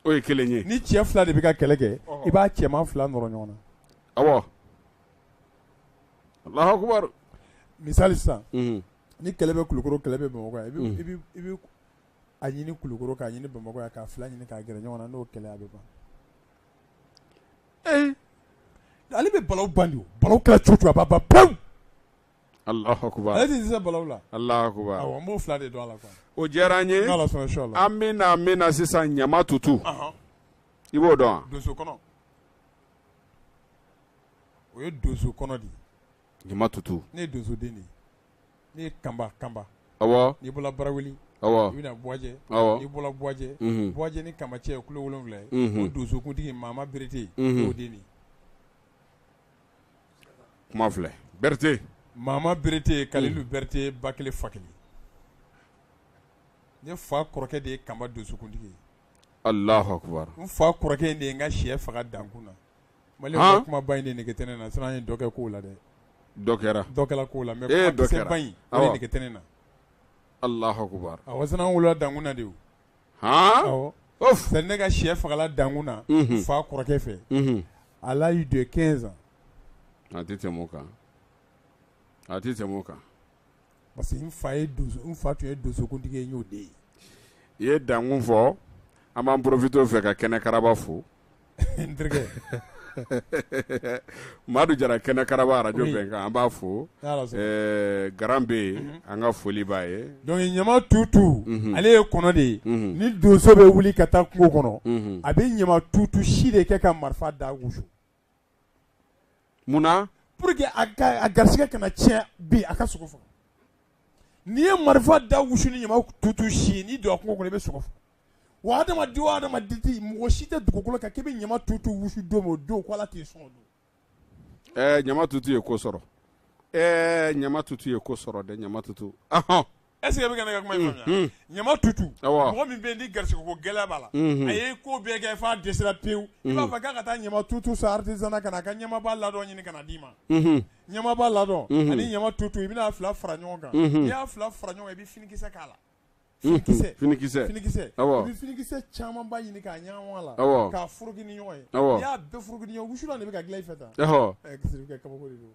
o ye kelen ye ni cɛ fila de bɛ ka kɛlɛ kɛ i b'a cɛman fila nɔrɔ ɲɔgɔn na awɔ Alahu akbar misali sisan ni kelen bɛ kulukoro kelen bɛ bamakɔ yan i bɛ a ɲini kulukoro k'a ɲini bamakɔ yan k'a fila ɲini k'a gɛrɛ ɲɔgɔn na n'o kɛlɛ a bɛ ban Ee ale bɛ balawu ban ni balawu kɛra cogo o cogo a b'a ban pan ale tɛ balawu la an b'o fila de don la o diyara an ye an bɛna an bɛna na sisan ɲamatutu i b'o dɔn donso kɔnɔ o ye donso kɔnɔ de ye ɲamatutu ne ye donsoden de ye Ne ye kanba kanba ɔwɔ n'i bɔra barawuli ɔwɔ i bɛna bɔjɛ ɔwɔ i bɔra bɔjɛ bɔjɛ ni kanba cɛ ye kilo wolonwula ye donsokuntigi mama berete o de kuma filɛ berete mama berete kalilu berete ba kelen fa kelen ne fa kɔrɔkɛ de ye kanba donsokuntigi ye Alahu akbar n fa kɔrɔkɛ de ye n ka syɛ faga dankun na Mali Han kuma ba in de nege tɛ ne na sinon an ye dɔ kɛ kow la dɛ dɔ kɛra dɔ kɛla kow la ee dɔ kɛra mais kuma misɛn ba in awɔ o de nege tɛ ne na Alahu akbar awɔ sinon an wolola dankun na de o haan awɔ ouf c'est à dire ne ka syɛ fagala dankun na unhun n fa kɔrɔkɛ fɛ unhun à l'âge de 15 ans a tɛ tɛmɛ o kan a tɛ tɛmɛ o kan parce que n fa ye donso n fa tun ye donsokuntigi ye n y'o de ye i ye dankun fɔ an b'an porofite o fɛ ka kɛnɛ karaba fo n terikɛ madu jara kɛnɛ karaba arajo Oui. bɛnkan an b'a fo N'Ala sɔnna. Eh, garan bɛ yen an ka foli b'a ye donc ɲama tutu Mhm. ale ye kɔnɔ de ye Mhm. ni donso bɛ wuli ka taa kungo kɔnɔ Mhm. a bɛ ɲama tutu si de kɛ ka marifa da wusu Munna pour que a garisigɛ kana tiɲɛ bi a ka sogo faga n'i ye marifa da wusu ni ɲama tutu si n'i donna kungo kɔnɔ i bɛ sogo faga wa adamaden adamaden tɛ mɔgɔ si tɛ dugukolo kan k'i bɛ ɲama tutu wusu don o don k' ala t'i sɔn donc ɲama tutu ye ko sɔrɔ ɲama tutu ye ko sɔrɔ dɛ ɲama tutu Est-ce que e bɛ ka ne ka kuma in faamuya? Unhun. Ɲama tutu. Awɔ. Mɔgɔ min bɛ yen ni garisigɛko gɛlɛya b'a la. Unhun. A ye ko bɛɛ kɛ f'a dɛsɛra pewu. I b'a fɔ k'a ka taa ɲama tutu san artisanat na ka na a ka ɲamaba ladɔn ɲini ka na d'i ma. Unhun. Ɲamaba ladɔn. Unhun. Ani ɲama tutu i bɛn'a fila fara ɲɔgɔn kan. Unhun. N'i y'a fila fara ɲɔgɔn kan, i bɛ finikisɛ k'a la. Unhun. Finikisɛ. Finikisɛ. Finikisɛ. Awɔ. I bɛ finikisɛ camanba ɲini k'a ɲagami a la. Awɔ. K'a foroki ni ɲɔgɔn ye. Awɔ. N'i y'a bɛɛ foroki ni ɲɔgɔn ye, wusulan de bɛ ka dilan i fɛ tan. Ɔhɔ. Ɛɛ, Sidiki, i ka kabako de don.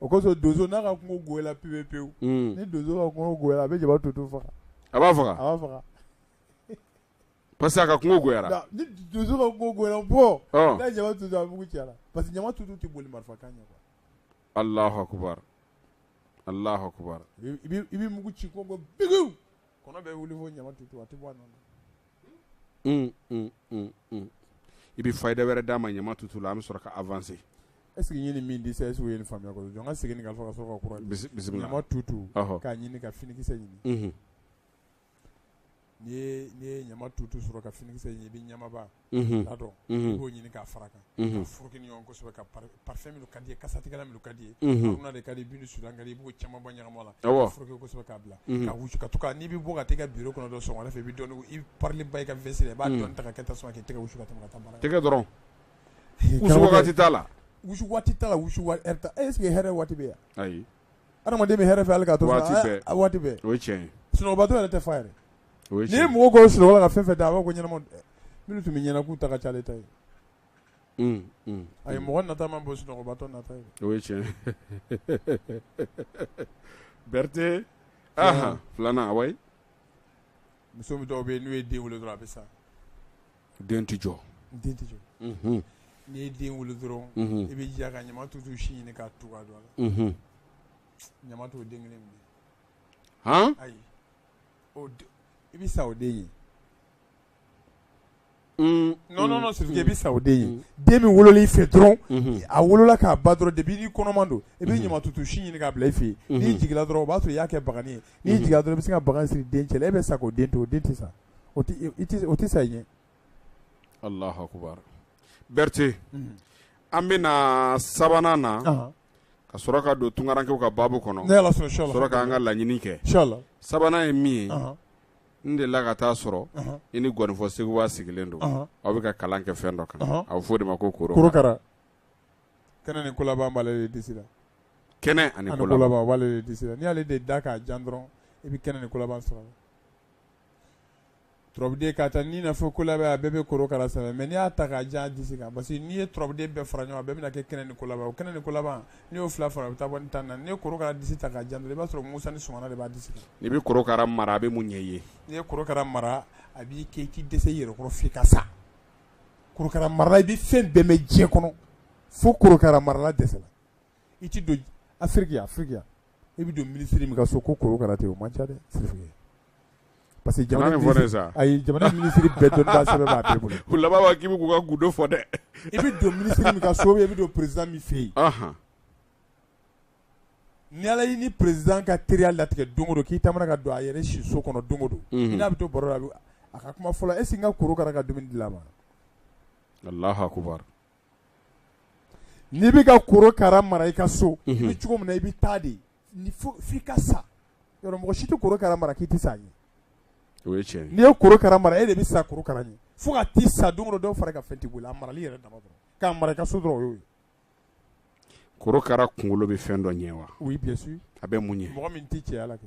o kosɔn donso n'a ka kungo gola pewu pewu ni donso ka a bɛ jaba to to faga a b'a faga a faga pa que a ka kungo ni donso ka bɔ jaba pa que jama tu tɛ boli marifa kan ɲɛ a la i bɛ mugu ci ko bɛ wuli fɔ ɲama to a tɛ bɔ i bɛ faida wɛrɛ d'an ma ɲama tutu la an bɛ sɔrɔ ka awanse e sigi ɲini min di e segu ye faamuya jɔn ka segin ka fɔ ka tutu k'a ɲini ka finikisɛ ɲini n'i ye ɲama tutu sɔrɔ ka finikisɛ ɲini i bɛ ɲamaba ladɔn k'o ɲini k'a fara kan unhun, ka foroki ni ɲɔgɔn kosɛbɛ, ka parfum minnu ka di ye, kasatigɛlan minnu ka di ye, unhun, haruna de ka di ye, bintu sudan ka di ye, i b'o camanba ɲagami a la, awɔ, k'a foroki kosɛbɛ k'a bila, unhun, ka wusu ka to ka, n'i bɛ bɔ ka t'i ka bureau kɔnɔ dɔrɔn sɔgɔmada fɛ, i bɛ dɔɔni, i parilenba i ka veste la, i b'a dɔɔni ta ka kɛ tasuma k'i tɛgɛ wusu ka tɛmɛ ka taa baara kɛ, tɛgɛ dɔrɔn, wusu waati t'a la, wusu waati t'a la, wusu waati, est ce que hɛrɛ waati bɛ yen wa? Ayi. adamaden bɛ hɛrɛ fɛ hali ka to waati bɛɛ a waati bɛɛ o ye tiɲɛ ye sunɔgɔbatɔ yɛrɛ tɛ fa yɛrɛ o ye n'i ye tiɲɛ mɔgɔ kunun sunɔgɔ la ka fɛn fɛn d'a a b'a ko ɲɛnama minnu tun bɛ ɲɛ na k'u ta ka ca ale ta ye ye un un a ye mɔgɔ nata man bon sunɔgɔbatɔ nata ye o ye tiɲɛ ye Berthe ahan filanan wayi muso min dɔw bɛ yen n'u ye den wolo dɔrɔn a bɛ sa den tɛ jɔ den tɛ jɔ n'i ye den wolo dɔrɔn i bɛ jija ka ɲama tutu si ɲini ka tu ka don a la ɲama t'o den kelen minɛ ayi i bɛ sa o den ɲɛ nɔnɔ siri i bɛ sa o den ɲɛ den min wolola i fɛ dɔrɔn a wolola k'a ban dɔrɔn depi n'i kɔnɔma don i bɛ ɲama tutu si ɲini k'a bila i fɛ yen n'i jigin dɔrɔn o b'a sɔrɔ i y'a kɛ bagan ye n'i jigin dɔrɔn i bɛ se ka bagan siri den cɛ la e bɛ sa k'o den to o den tɛ sa o tɛ sa i ɲɛ alahu akubar berete an bɛna na sabanan na ka sɔrɔ ka don tunkarankɛw ka baabu kɔnɔ sɔrɔ k'an ka laɲini kɛ sabanan ye min ye n delila ka taa sɔrɔ i ni ngɔnifɔ sekuba sigilen don aw bɛ ka kalan kɛ fɛn dɔ kan a bɛ fɔ de ma ko koro kɛnɛ ni ko laban b'ale disi la kɛnɛ ani ko laban b'ale disi la n'ale de da k'a jan dɔrɔn i bɛ kɛnɛ ni ko laban sɔrɔ turabuden k'a ta ni na fo ko laban a bɛɛ bɛ korokara sɛbɛn mɛ n' y'a ta k'a jan disi kan parce que n'i ye turabuden bɛɛ fara ɲɔgɔn bɛɛ bɛna kɛ kɛnɛ ni ko laban o kɛnɛ ni ko laban n y'o fila fara bɛ taa bɔ tan na n' ye korokara disi ta k'a jan i b'a sɔrɔ musa ni s de b'a disi i bɛ korokara mara a bɛ mun ɲɛ ye n'i ye korokara mara a b'i ke k'i dɛsɛ i yɛrɛ kɔrɔ fo ka sa korokara mara i bɛ fɛn bɛɛ mɛn diɲɛ kɔnɔ fo korokara marala dɛsɛra i tɛ don Afiriki yan Afiriki yan e bɛ don minisiri min ka so ko korokara tɛ yen o man ca dɛ Sirifu ye parce que jamana Kana nin fɔ ne ye sa. minisiri ayi jamana minisiri bɛɛ dɔnnibaa sɛbɛ b'a bɛɛ bolo U laban b'a k'i bɛ k'u ka gundo fɔ dɛ. i bɛ don minisiri min ka so ou bien i bɛ don président min fɛ yen Ahan. ni ala y'i ni président ka teriya latigɛ don o don k'i taamana ka don a yɛrɛ siso kɔnɔ don o don Mhm. i n'a bɛ to baro la a bɛ- a ka kuma fɔlɔ est ce que n ka korokara ka dumuni dira a ma Alahu akubar. n'i bɛ ka korokara mara i ka so i bɛ cogo min na i bɛ taa de f'i ka sa yɔrɔ mɔgɔ si tɛ korokara mara k'i tɛ sa a ɲɛ o ye tiɲɛ n'i ye korokara mara e de bɛ sa korokara ɲɛ fo ka t'i sa don o don dɔ fara i ka fɛn t'i bolo a marali yɛrɛ dama dɔrɔn k'a mara i ka so dɔrɔn o y'o ye korokara kunkolo bɛ fɛn dɔ ɲɛ wa oui bien sûr a bɛ mun ɲɛ mɔgɔ min tɛ cɛya la kɛ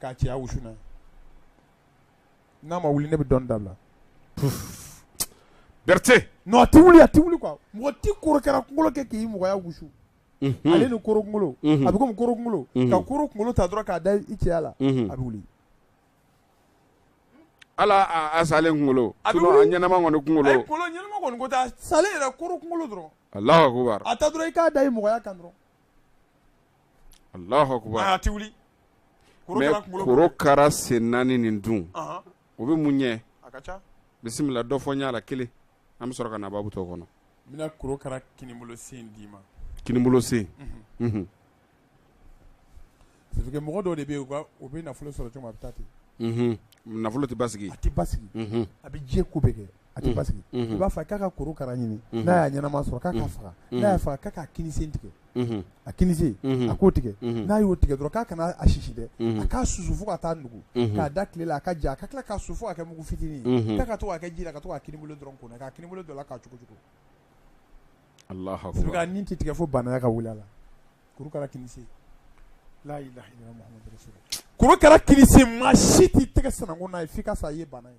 k'a cɛya wusu n'a ye, n'a ma wuli ne bɛ dɔnni dabila, puf, Berete, non a tɛ wuli a tɛ wuli quoi mɔgɔ tɛ korokara kunkolo kɛ k'i mɔgɔya wusu, unhun, ale ni korokunkolo, unhun, a bɛ komi korokunkolo, unhun, ka koro kunkolo ta dɔrɔn k'a da i cɛya la, unhun, a bɛ wuli, hali a a salen kunkolo, a bɛ wuli, sinon a ɲɛnama kɔni kunkolo, ayi kunkolo ɲɛnama kɔni ko tɛ a salen yɛrɛ korokunkolo dɔrɔn, Alahu akbar, a ta dɔrɔn i k'a da i mɔgɔya kan dɔrɔn korokara sen naani nin dun o bɛ mun ɲɛ bisimila dɔ fɔ n y'a la kelen an bɛ sɔrɔ ka nababu to kɔnɔ d'i mɔgɔ dɔ de bɛ nafolo sɔrɔ ten nafolo tɛ ba a tɛ ba a bɛ diɲɛ ko bɛɛ kɛ a tɛ basigi i b'a fɔ k'a ka korokara ɲini n'a y'a ɲɛnama sɔrɔ k'a k'a faga n'a y'a faga k'a k'a kininsen tigɛ a kininsen a k'o tigɛ n'a y'o tigɛ dɔrɔn k'a kana a si dɛ a k'a susu fo ka taa nugu k'a da tile la a ka ja a ka tila k'a susu fo k'a kɛ mugu fitinin ye k'a ka to k'a kɛ ji la ka to k'a kininbolo dɔrɔn ko k'a kininbolo don a la k'a cogo cogo Alahu akbar surtout a ni tɛ tigɛ fo baanaya ka wuli a la korokara kininsen laa ilaaha illa Muhamadu rasulu laahi korokara kininsen maa si t'i tɛgɛ sananko n'a ye f'i ka sa i ye baana ye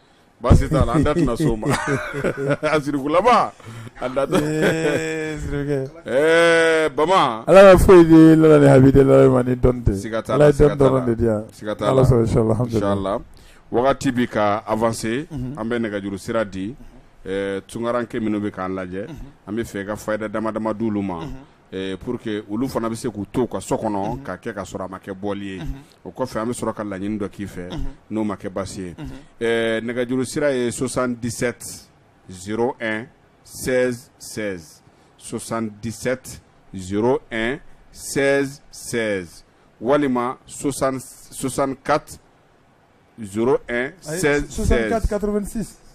baasi t'a la an da tɛna se o ma a sirikulama a da tɛ Ee, siriki. ɛɛ bama ala ka foyi di lala ni habi de lala ma ni dɔn tɛ Siga t'a la, ala ye siga dɔn t'a la. dɔrɔn de di yan siga t'a ala la sɔrɔ inshallah alhamdulillah inshallah wagati bɛ ka avancer an bɛ nɛgɛjuru sira di ɛɛ tunkaranke minnu bɛ k'an lajɛ an b'a fɛ ka fayida dama dama di olu ma Pour que olu fana bɛ se k'u to ka so kɔnɔ ka kɛ ka sɔrɔ a ma kɛ bɔli ye o kɔfɛ an bɛ sɔrɔ ka laɲini dɔ k'i fɛ n'o ma kɛ basi ye nɛgɛjuru sira ye sosan disati s sɛ sosan disati s sɛ sɛ walima sosan sosan ka s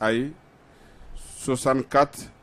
ayi sosan ka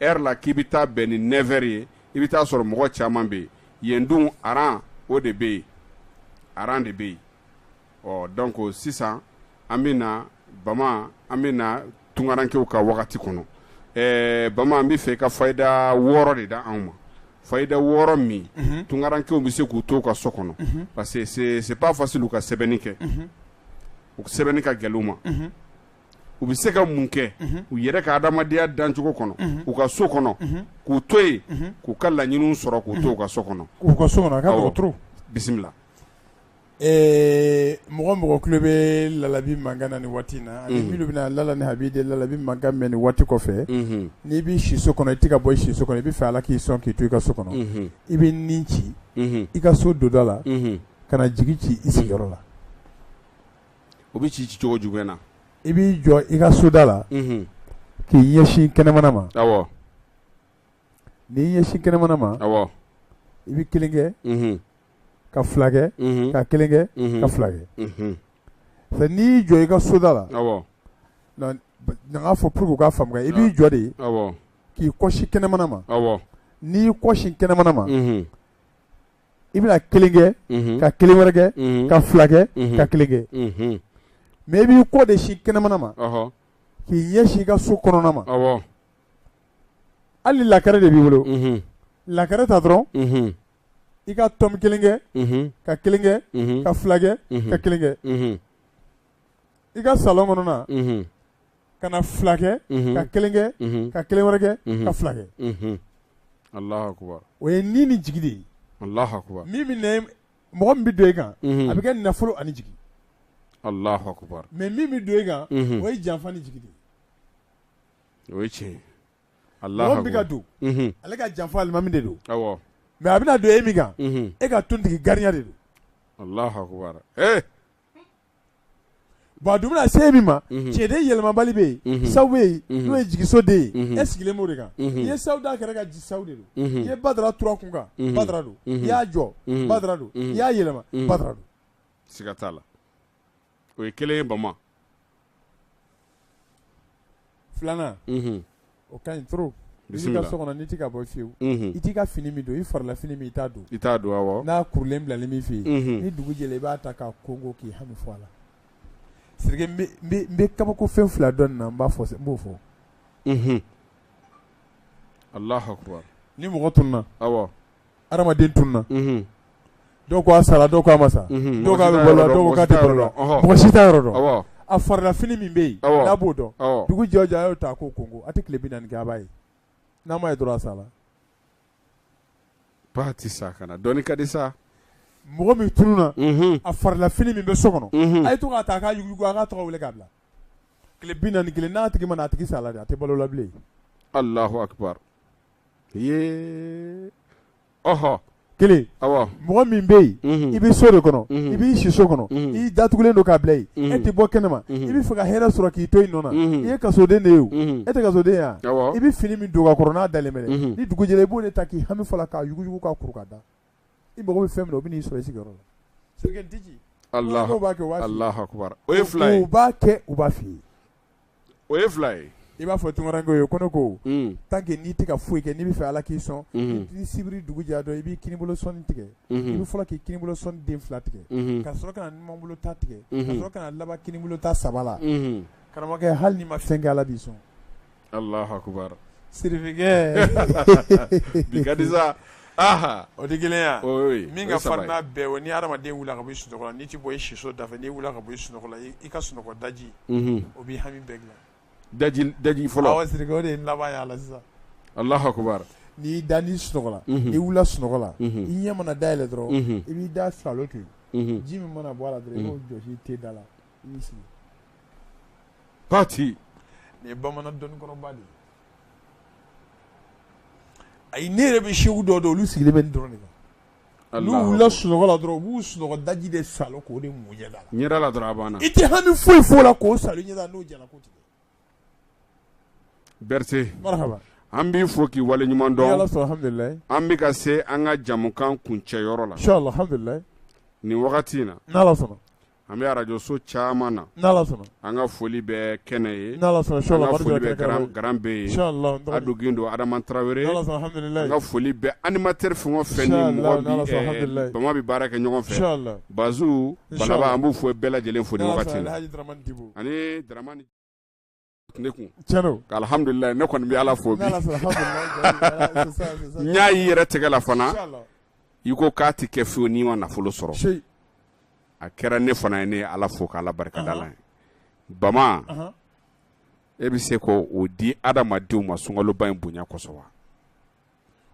heures la k'i bɛ taa bɛn ni neuf heures ye i bɛ taa sɔrɔ mɔgɔ caman bɛ yen yen dun rang o de bɛ yen rang de bɛ yen ɔ donc sisan an bɛ na bama an bɛ na tunkarankew ka wagati kɔnɔ ɛɛ bama n b'a fɛ i ka fayida wɔɔrɔ de d'anw ma fayida wɔɔrɔ min tunkarankew bɛ se k'u to u ka so kɔnɔ parce que c'est pas facile u ka sɛbɛnni kɛ u sɛbɛnni ka gɛlɛn u ma u bɛ se ka mun kɛ u yɛrɛ ka adamadenya dancogo kɔnɔ u ka so kɔnɔ k'u to yen k'u ka laɲini sɔrɔ k'u to u ka so kɔnɔ k'u ka so kɔnɔ bisimila ɛɛ mɔgɔ mɔgɔ tulo bɛ Lalabi mankan na ni waati in na minnu bɛna lala ni a b'i de Lalabi mankan mɛn ni waati kɔfɛ n'i bɛ si so kɔnɔ i tɛ ka bɔ si so kɔnɔ i bɛ fɛ ala k'i sɔn k'i to i ka so kɔnɔ i bɛ ni ci i ka so donda la ka jigi ci i sigiyɔrɔ la o bɛ ci cicogo jumɛn na i b'i jɔ i ka soda la k'i ɲɛsin kɛnɛmana ma n'i ɲɛsin kɛnɛmana ma i bɛ kelen kɛ ka fila kɛ ka kelen kɛ ka fila kɛ n'i jɔ i ka soda la n k'a fɔ pour que u k'a faamu i b'i jɔ de k'i kɔsin kɛnɛmana ma n'i kɔsin kɛnɛmana ma i bɛna kelen kɛ ka kelen wɛrɛ kɛ ka fila kɛ ka kelen kɛ mais i b'i kɔ de sin kɛnɛmana ma k'i ɲɛsin i ka so kɔnɔna ma hali lakɛrɛ de b'i bolo lakɛrɛ ta dɔrɔn i ka tɔmi kelen kɛ ka kelen kɛ ka fila kɛ ka kelen kɛ i ka salɔn kɔnɔna ka na fila kɛ ka kelen kɛ ka kelen wɛrɛ kɛ ka fila kɛ Alahu akbar o ye ni ni jigi de ye Alahu akbar min mɔgɔ min bɛ don e kan a bɛ kɛ nafolo ani jigi Alahu akbar mais min bɛ don e kan o ye janfa ni jigi de ye o tiɲɛ bɛ ka don ale kan janfa alimami de don mais a bɛna don e min kan e ka tontigi gariya de don Bon a dun bɛna se min ma, unhun, cɛnden yɛlɛmabali bɛ yen, unhun, sawu bɛ yen, unhun, n'o ye jigiso den ye, unhun, e sigilen b'o de kan, unhun, i ye sawu d'a kɛrɛ kan sawu de don, unhun, i ye badara tur'a kun kan badara don, unhun, i y'a jɔ badara don, unhun, i y'a yɛlɛma badara don, siga t'a la o ye kelen ye Bama filanan o ka ɲi trop n'i b'i ka so kɔnɔ n'i tɛ ka bɔ fewu i t'i ka fini min don i farila fini min i t'a don i t'a don awɔ n'a kurulen bilalen b'i fɛ yen ni dugu jɛra i b'a ta k'a kɔnkɔn k'i hami fɔ a la Sidiki n bɛ n bɛ n bɛ kabakofɛn fila dɔn nin na n b'a fɔ n b'o fɔ Alahu akbar ni mɔgɔ tununa awɔ. adamaden tununa dɔw ko a sara dɔw ko a ma sa dɔw k'a bɛ balo dɔw k'a tɛ la mɔgɔ si t'a yɔrɔ dɔn a farifini min bɛ yen n'a b'o don dugu jɛ o jɛ a y'o ta k'o kɔnkɔn a tɛ tile bi naani kɛ a b'a ye n'a ma ye dɔrɔn a sala a tɛ se ka na dɔnni ka di sa mɔgɔ min tununa a farifini min bɛ so kɔnɔ a ye to k'a ta k'a jugu a ka tɔgɔ wele k'a bila tile bi naani kelen n'a tigi ma a tigi sala a tɛ balo la bilen Ee ɔhɔ kelen mɔgɔ min bɛ yen i bɛ so de kɔnɔ i b'i siso kɔnɔ i datugulen don k'a bila e tɛ bɔ kɛnɛ ma i bɛ fɛ ka hɛrɛ sɔrɔ k'i to i nɔ na i ye kasoden de ye e tɛ kasoden yan i bɛ fini min don ka kɔrɔ n'a daminɛ ni dugu jɛla i b'o ta k'i hami fɔ a la k'a yuguyugu k'a kuru k'a da i mago bɛ fɛn min na o bɛ n'i sɔrɔ i sigiyɔrɔ la o fila ye i b'a fɔ ko ye ko ne ko tan kɛ n'i tɛ ka foyi kɛ n'i bɛ fɛ ala k'i sɔn i sibiri dugu jɛra dɔrɔn i b'i kini bolo sɔnin tigɛ i bɛ fɔlɔ k'i kini bolo sɔnin den fila tigɛ ka sɔrɔ ka numan bolo ta tigɛ ka sɔrɔ ka laban kini bolo ta saba la karamɔgɔkɛ hali n'i ma fɛn kɛ ala b'i sɔn bikarijan o de gɛlɛya min ka fa bɛɛ o ni hadamaden wulila ka bɔ i sunɔgɔ la n'i tɛ bɔ i siso da fɛ n'i wulila ka bɔ i sunɔgɔ la i ka sunɔgɔ daji o bɛ hami bɛɛ dilan daji fɔlɔ de laban la sisan alahu akibaru n'i da ni sunɔgɔ la n'i wulila sunɔgɔ la i ɲɛ mana dayɛlɛ dɔrɔn i b'i da salo ten ji min mana bɔ a la dɔrɔn i k'o jɔsi i tenda la Pati nin ye bamanan dɔnnikɔrɔba de ye ayi ne yɛrɛ bɛ segu dɔw dɔn olu sigilen bɛ nin dɔrɔn de kan Alahu akibaru. n'u wulila sunɔgɔ la dɔrɔn u b'u sunɔgɔ daji de salo k'o de mun ɲɛda la ɲɛda la dɔrɔn a banna i tɛ hami foyi f'o la k'o salo ɲɛda la n'o jara ko tigɛ Berete marahaba an b'i fo k'i wale ɲuman dɔn ni Ala sɔnna alhamdulilayi an bɛ ka se an ka jamukan kuncɛyɔrɔ la inchallah alhamdulilayi nin wagati in na n'Ala sɔnna an bɛ arajoso caman na an ka foli bɛ kɛnɛ ye an dɔgɔnin don adama tarawele an ka foli bɛ animatɛri fɛn o fɛn ni bama bɛ baara kɛ ɲɔgɔn fɛ baz an b'u fo bɛɛ lajɛlen foli ne kun alihamdulila ne kɔni bɛ ala fo n y'a y'i yɛrɛ tɛgɛ la fana i ko k'a tɛ kɛ fiyewu n'i ma nafolo sɔrɔ a kɛra ne fana ye ne ala fo k'ala barikada la ye bama e bɛ se k' o di adamadenw ma sunkaloba in bonya kosɔn wa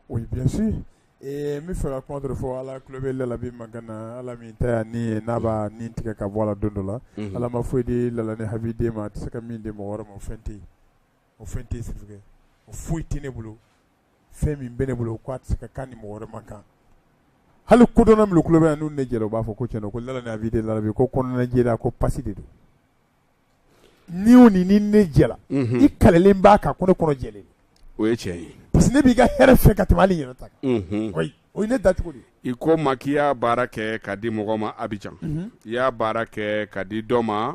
Oui bien sûr ee n bɛ fɛ ka kuma dɔ fɔ ala tulo bɛ labi man na ala min ta ni ye n'a b'a ni tigɛ ka bɔ a la don dɔ la ala ma foyi di la ni hadamaden ma a tɛ se ka min di mɔgɔ wɛrɛ ma o fɛn tɛ o fɛn tɛ su o foyi tɛ ne bolo fɛn min bɛ ne bolo k' a tɛ se ka kan ni mɔgɔ wɛrɛ ma kan hali kodɔn min ku kulubali yan n'u ne jɛra u b'a fɔ ko cɛn ko la a bɛ de labi ko kɔnɔnajɛ ko pa de don ni o ni ni ne jɛla i kalelen b'a kan ko ne kɔnɔ jɛlen o ye tiɲɛ ye parce que ne b'i ka hɛrɛ fɛ ka tɛmɛ hali n yɛrɛ ta kan o ye ne da cogo de i ko ma k'i y'a baara kɛ ka di mɔgɔ ma Abidjan i y'a baara kɛ ka di dɔ ma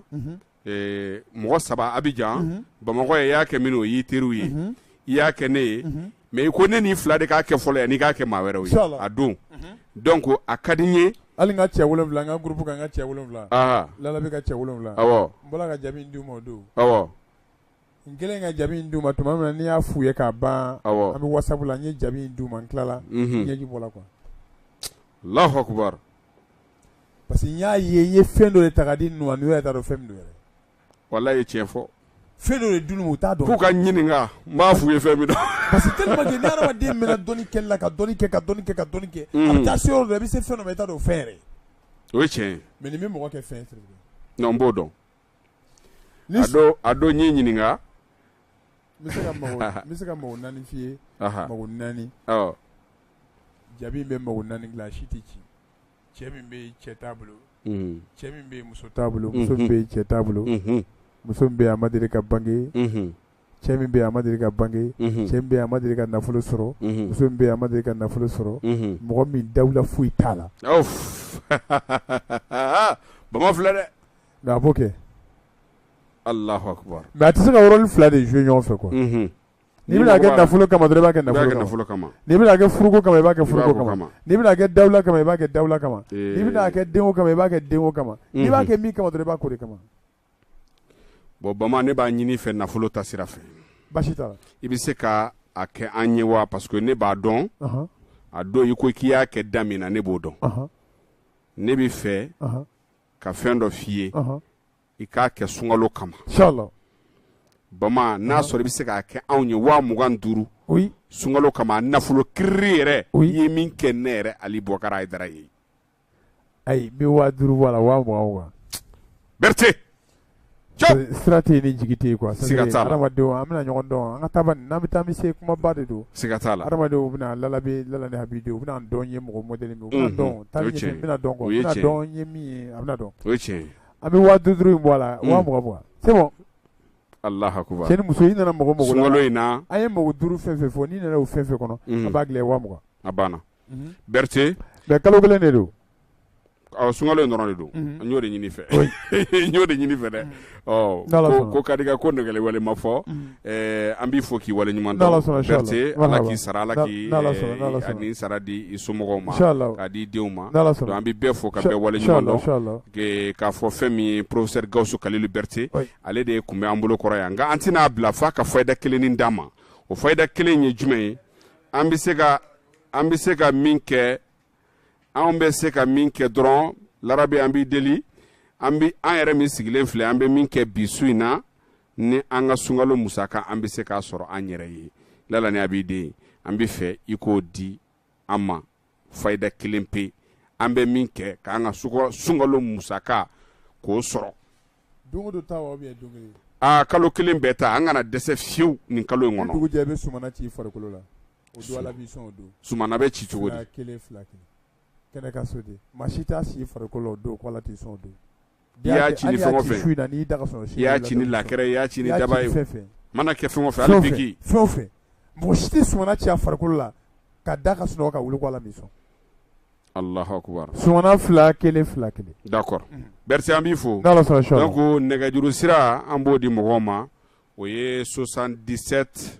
mɔgɔ saba Abidjan Bamakɔ i y'a kɛ minnu ye o y'i teriw ye i y'a kɛ ne ye mais i ko ne ni fula de k'a kɛ fɔlɔ yan n'i k'a kɛ maa wɛrɛ ye a don donc a ka di ye hali an ka cɛ wolonwula an ka gurup ka ka cɛ wolonwula la bɛ ka cɛ wolonwula n bɔra ka jaabi d'u ma o don n kelen ka jaabi in d'u ma tuma min na n y'a f'u ye k'a ban an bɛ wasapu la n ye jaabi in d'u ma n tilala ɲɛji bɔla alahu akbar parce que n y'a ye n ye fɛn dɔ ye ta di n' ye t'a dɔn fɛn min don yɛrɛ wala ye tiɲɛ fɔ fɛn dɔ de don u t'a dɔn k'u ka n ɲininka n b'a f'u ye fɛn min parce que tellement que ni hadamaden mɛnna dɔnni kɛli la ka dɔnni kɛ ka dɔnni kɛ ka dɔnni kɛ mm. a bɛ taa se yɔrɔ dɔ la i bɛ se fɛn dɔ ma i t'a dɔn o fɛn yɛrɛ o ye tiɲɛ ye mais nin bɛ mɔgɔ kɛ fɛn ye non n b'o dɔn a don a don n y'i ɲininka n bɛ se ka mago n bɛ se ka mago naani f'i ye mago naani jaabi in bɛ mago naani dilan a si tɛ ci cɛ min bɛ yen cɛ t'a bolo, unhun, cɛ min bɛ yen muso t'a bolo, unhun, muso min bɛ yen cɛ t'a bolo, unhun, muso min bɛ yen a ma deli ka bange, unhun, cɛ min bɛ yen a ma deli ka bange, unhun, cɛ min bɛ yen a ma deli ka nafolo sɔrɔ, unhun, muso min bɛ yen a ma deli ka nafolo sɔrɔ, unhun, mɔgɔ min dawula foyi t'a la, awɔ, bama filɛ dɛ, mais a b'o kɛ, Alahu akbar mais a tɛ se ka yɔrɔnin fila de jouer ɲɔgɔn fɛ quoi, unhun. N'i bɛna kɛ nafolo kama i b'a kɛ nafolo kama n'i bɛna kɛ furuko kama i b'a kɛ furuko kama n'i bɛna kɛ dawula kama i b'a kɛ dawula kama n'i bɛna kɛ denko kama i b'a kɛ denko kama i b'a kɛ min kama dɔrɔn i b'a k'o de kama bon bama ne b'a ɲini i fɛ nafolo ta sira fɛ basi t'a la i bɛ se ka a kɛ an ye wa parce que ne b'a dɔn a don i ko k'i y'a kɛ da min na ne b'o dɔn ne bɛ fɛ ka fɛn dɔ f'i ye i k'a kɛ sunkalo kama bama n'a sɔrɔ i bɛ se k'a kɛ anw ye waa mugan duuru sunkalo kama nafolo kiiriri yɛrɛ o ye min kɛ ne yɛrɛ ali bɔkara a ye dara ye an bɛ waa duuru bɔ a la waa mugan wa berete sira tɛ ni jigi tɛ kuwa siga t'a la adamadenw an bɛna ɲɔgɔn dɔn an ka taa n'an bɛ taa bɛ se kumaba de don siga t'a la adamadenw bɛna lalabe lala ni habidenw u bɛna dɔn ye mɔgɔ mɔdɛli min u bɛna dɔn taa bɛna dɔn kɔ u bɛna dɔn ye min ye a bɛna dɔn o ye tiɲɛ ye An bɛ waga duuru in bɔ a la waga mugan bɔ cɛ wala muso i nana mago mago min na a ye mago duuru fɛn o fɛn fɔ n'i nana o fɛn o fɛn kɔnɔ a b'a dilan waga mugan a banna berete mais kalo kelen de don sunkalo in dɔrɔn de don n y'o de ɲini i fɛ n y'o de ɲini i fɛ dɛ ko ka ko nɛgɛ walima ma fɔ Ɛɛ an b'i fo k'i wale ɲuman dɔn ala k'i sara ala k'i sara di i somɔgɔw ma k'a di i denw ma an bɛ bɛɛ fo ka bɛɛ wale ɲuman dɔn k'a fɔ fɛn min ye porofesɛri gawusu kalilu berete ale de tun bɛ an bolo kɔrɔ yan nka an tɛna a bila f'a ka fayida kelen d'an ma o fayida kelen ye jumɛn ye an bɛ se ka an bɛ se ka min kɛ an bɛ se ka min kɛ dɔrɔn ya rabi an b'i deli an bɛ an yɛrɛ min sigilen filɛ an bɛ min kɛ bi su in na ni an ka sunkalo musaka an bɛ se k'a sɔrɔ an yɛrɛ ye lala ni abidin an b'a fɛ i k'o di an ma fayida kelen pe an bɛ min kɛ k'an ka sunkalo musaka k'o sɔrɔ aa kalo kelen bɛɛ ta an kana dɛsɛ fiyewu nin kalo in kɔnɔ ci farikolo la sumana bɛ ci cogo di kɛnɛ ka so de maa si t'a ci farikolo don ko ala t'i sɔn don i y'a ci ni fɛn o fɛn ye, i y'a ci ni lakɛrɛ ye, i y'a ci ni daba ye, mana kɛ fɛn o fɛn ye, hali biriki, fɛn o fɛn, mɔgɔ si tɛ sumana ci a farikolo la ka da ka sunɔgɔ ka wuli ko Ala m'i sɔn, Alahu akbar, sumana 2 1 2 1 d'accord merci an b'i fo, n'Ala sɔnna suba, donc nɛgɛjuru sira an b'o di mɔgɔw ma o ye 77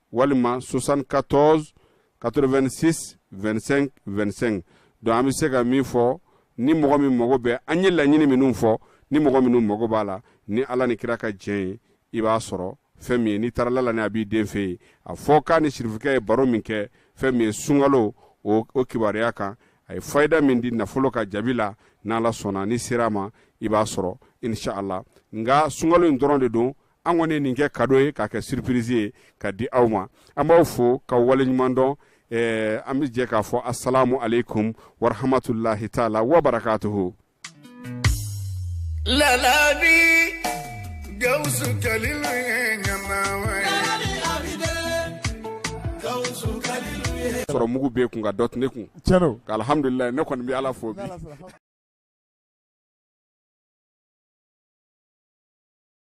walima 74 86 25 25 donc an bɛ se ka min fɔ ni mɔgɔ min mago bɛ an ye laɲini minnu fɔ ni mɔgɔ minnu mago b'a la ni ala ni kira ka jɛn ye i b'a sɔrɔ fɛn min ye n'i taara lala ni abidin fɛ yen a fɔ k'a ni sirifikɛ ye baro min kɛ fɛn min ye sunkalo o o kibaruya kan a ye fayida min di nafolo ka jaabi la n'ala sɔnna n'i sera a ma i b'a sɔrɔ inshallah nka sunkalo in dɔrɔn de don an kɔni nin kɛ kado ye k'a kɛ surprise ye k'a di aw ma an b'aw fo k'aw wale ɲuman dɔn eh, an bɛ jɛ k'a fɔ asalamu aleikum warahamatulahi taala wabarakatuhu lalabi gawusu kalilu ye ɲamawa sɔrɔ mugu bɛ kun nka dɔ tun ne kun alhamdulilayi ne kɔni bɛ ala fo bi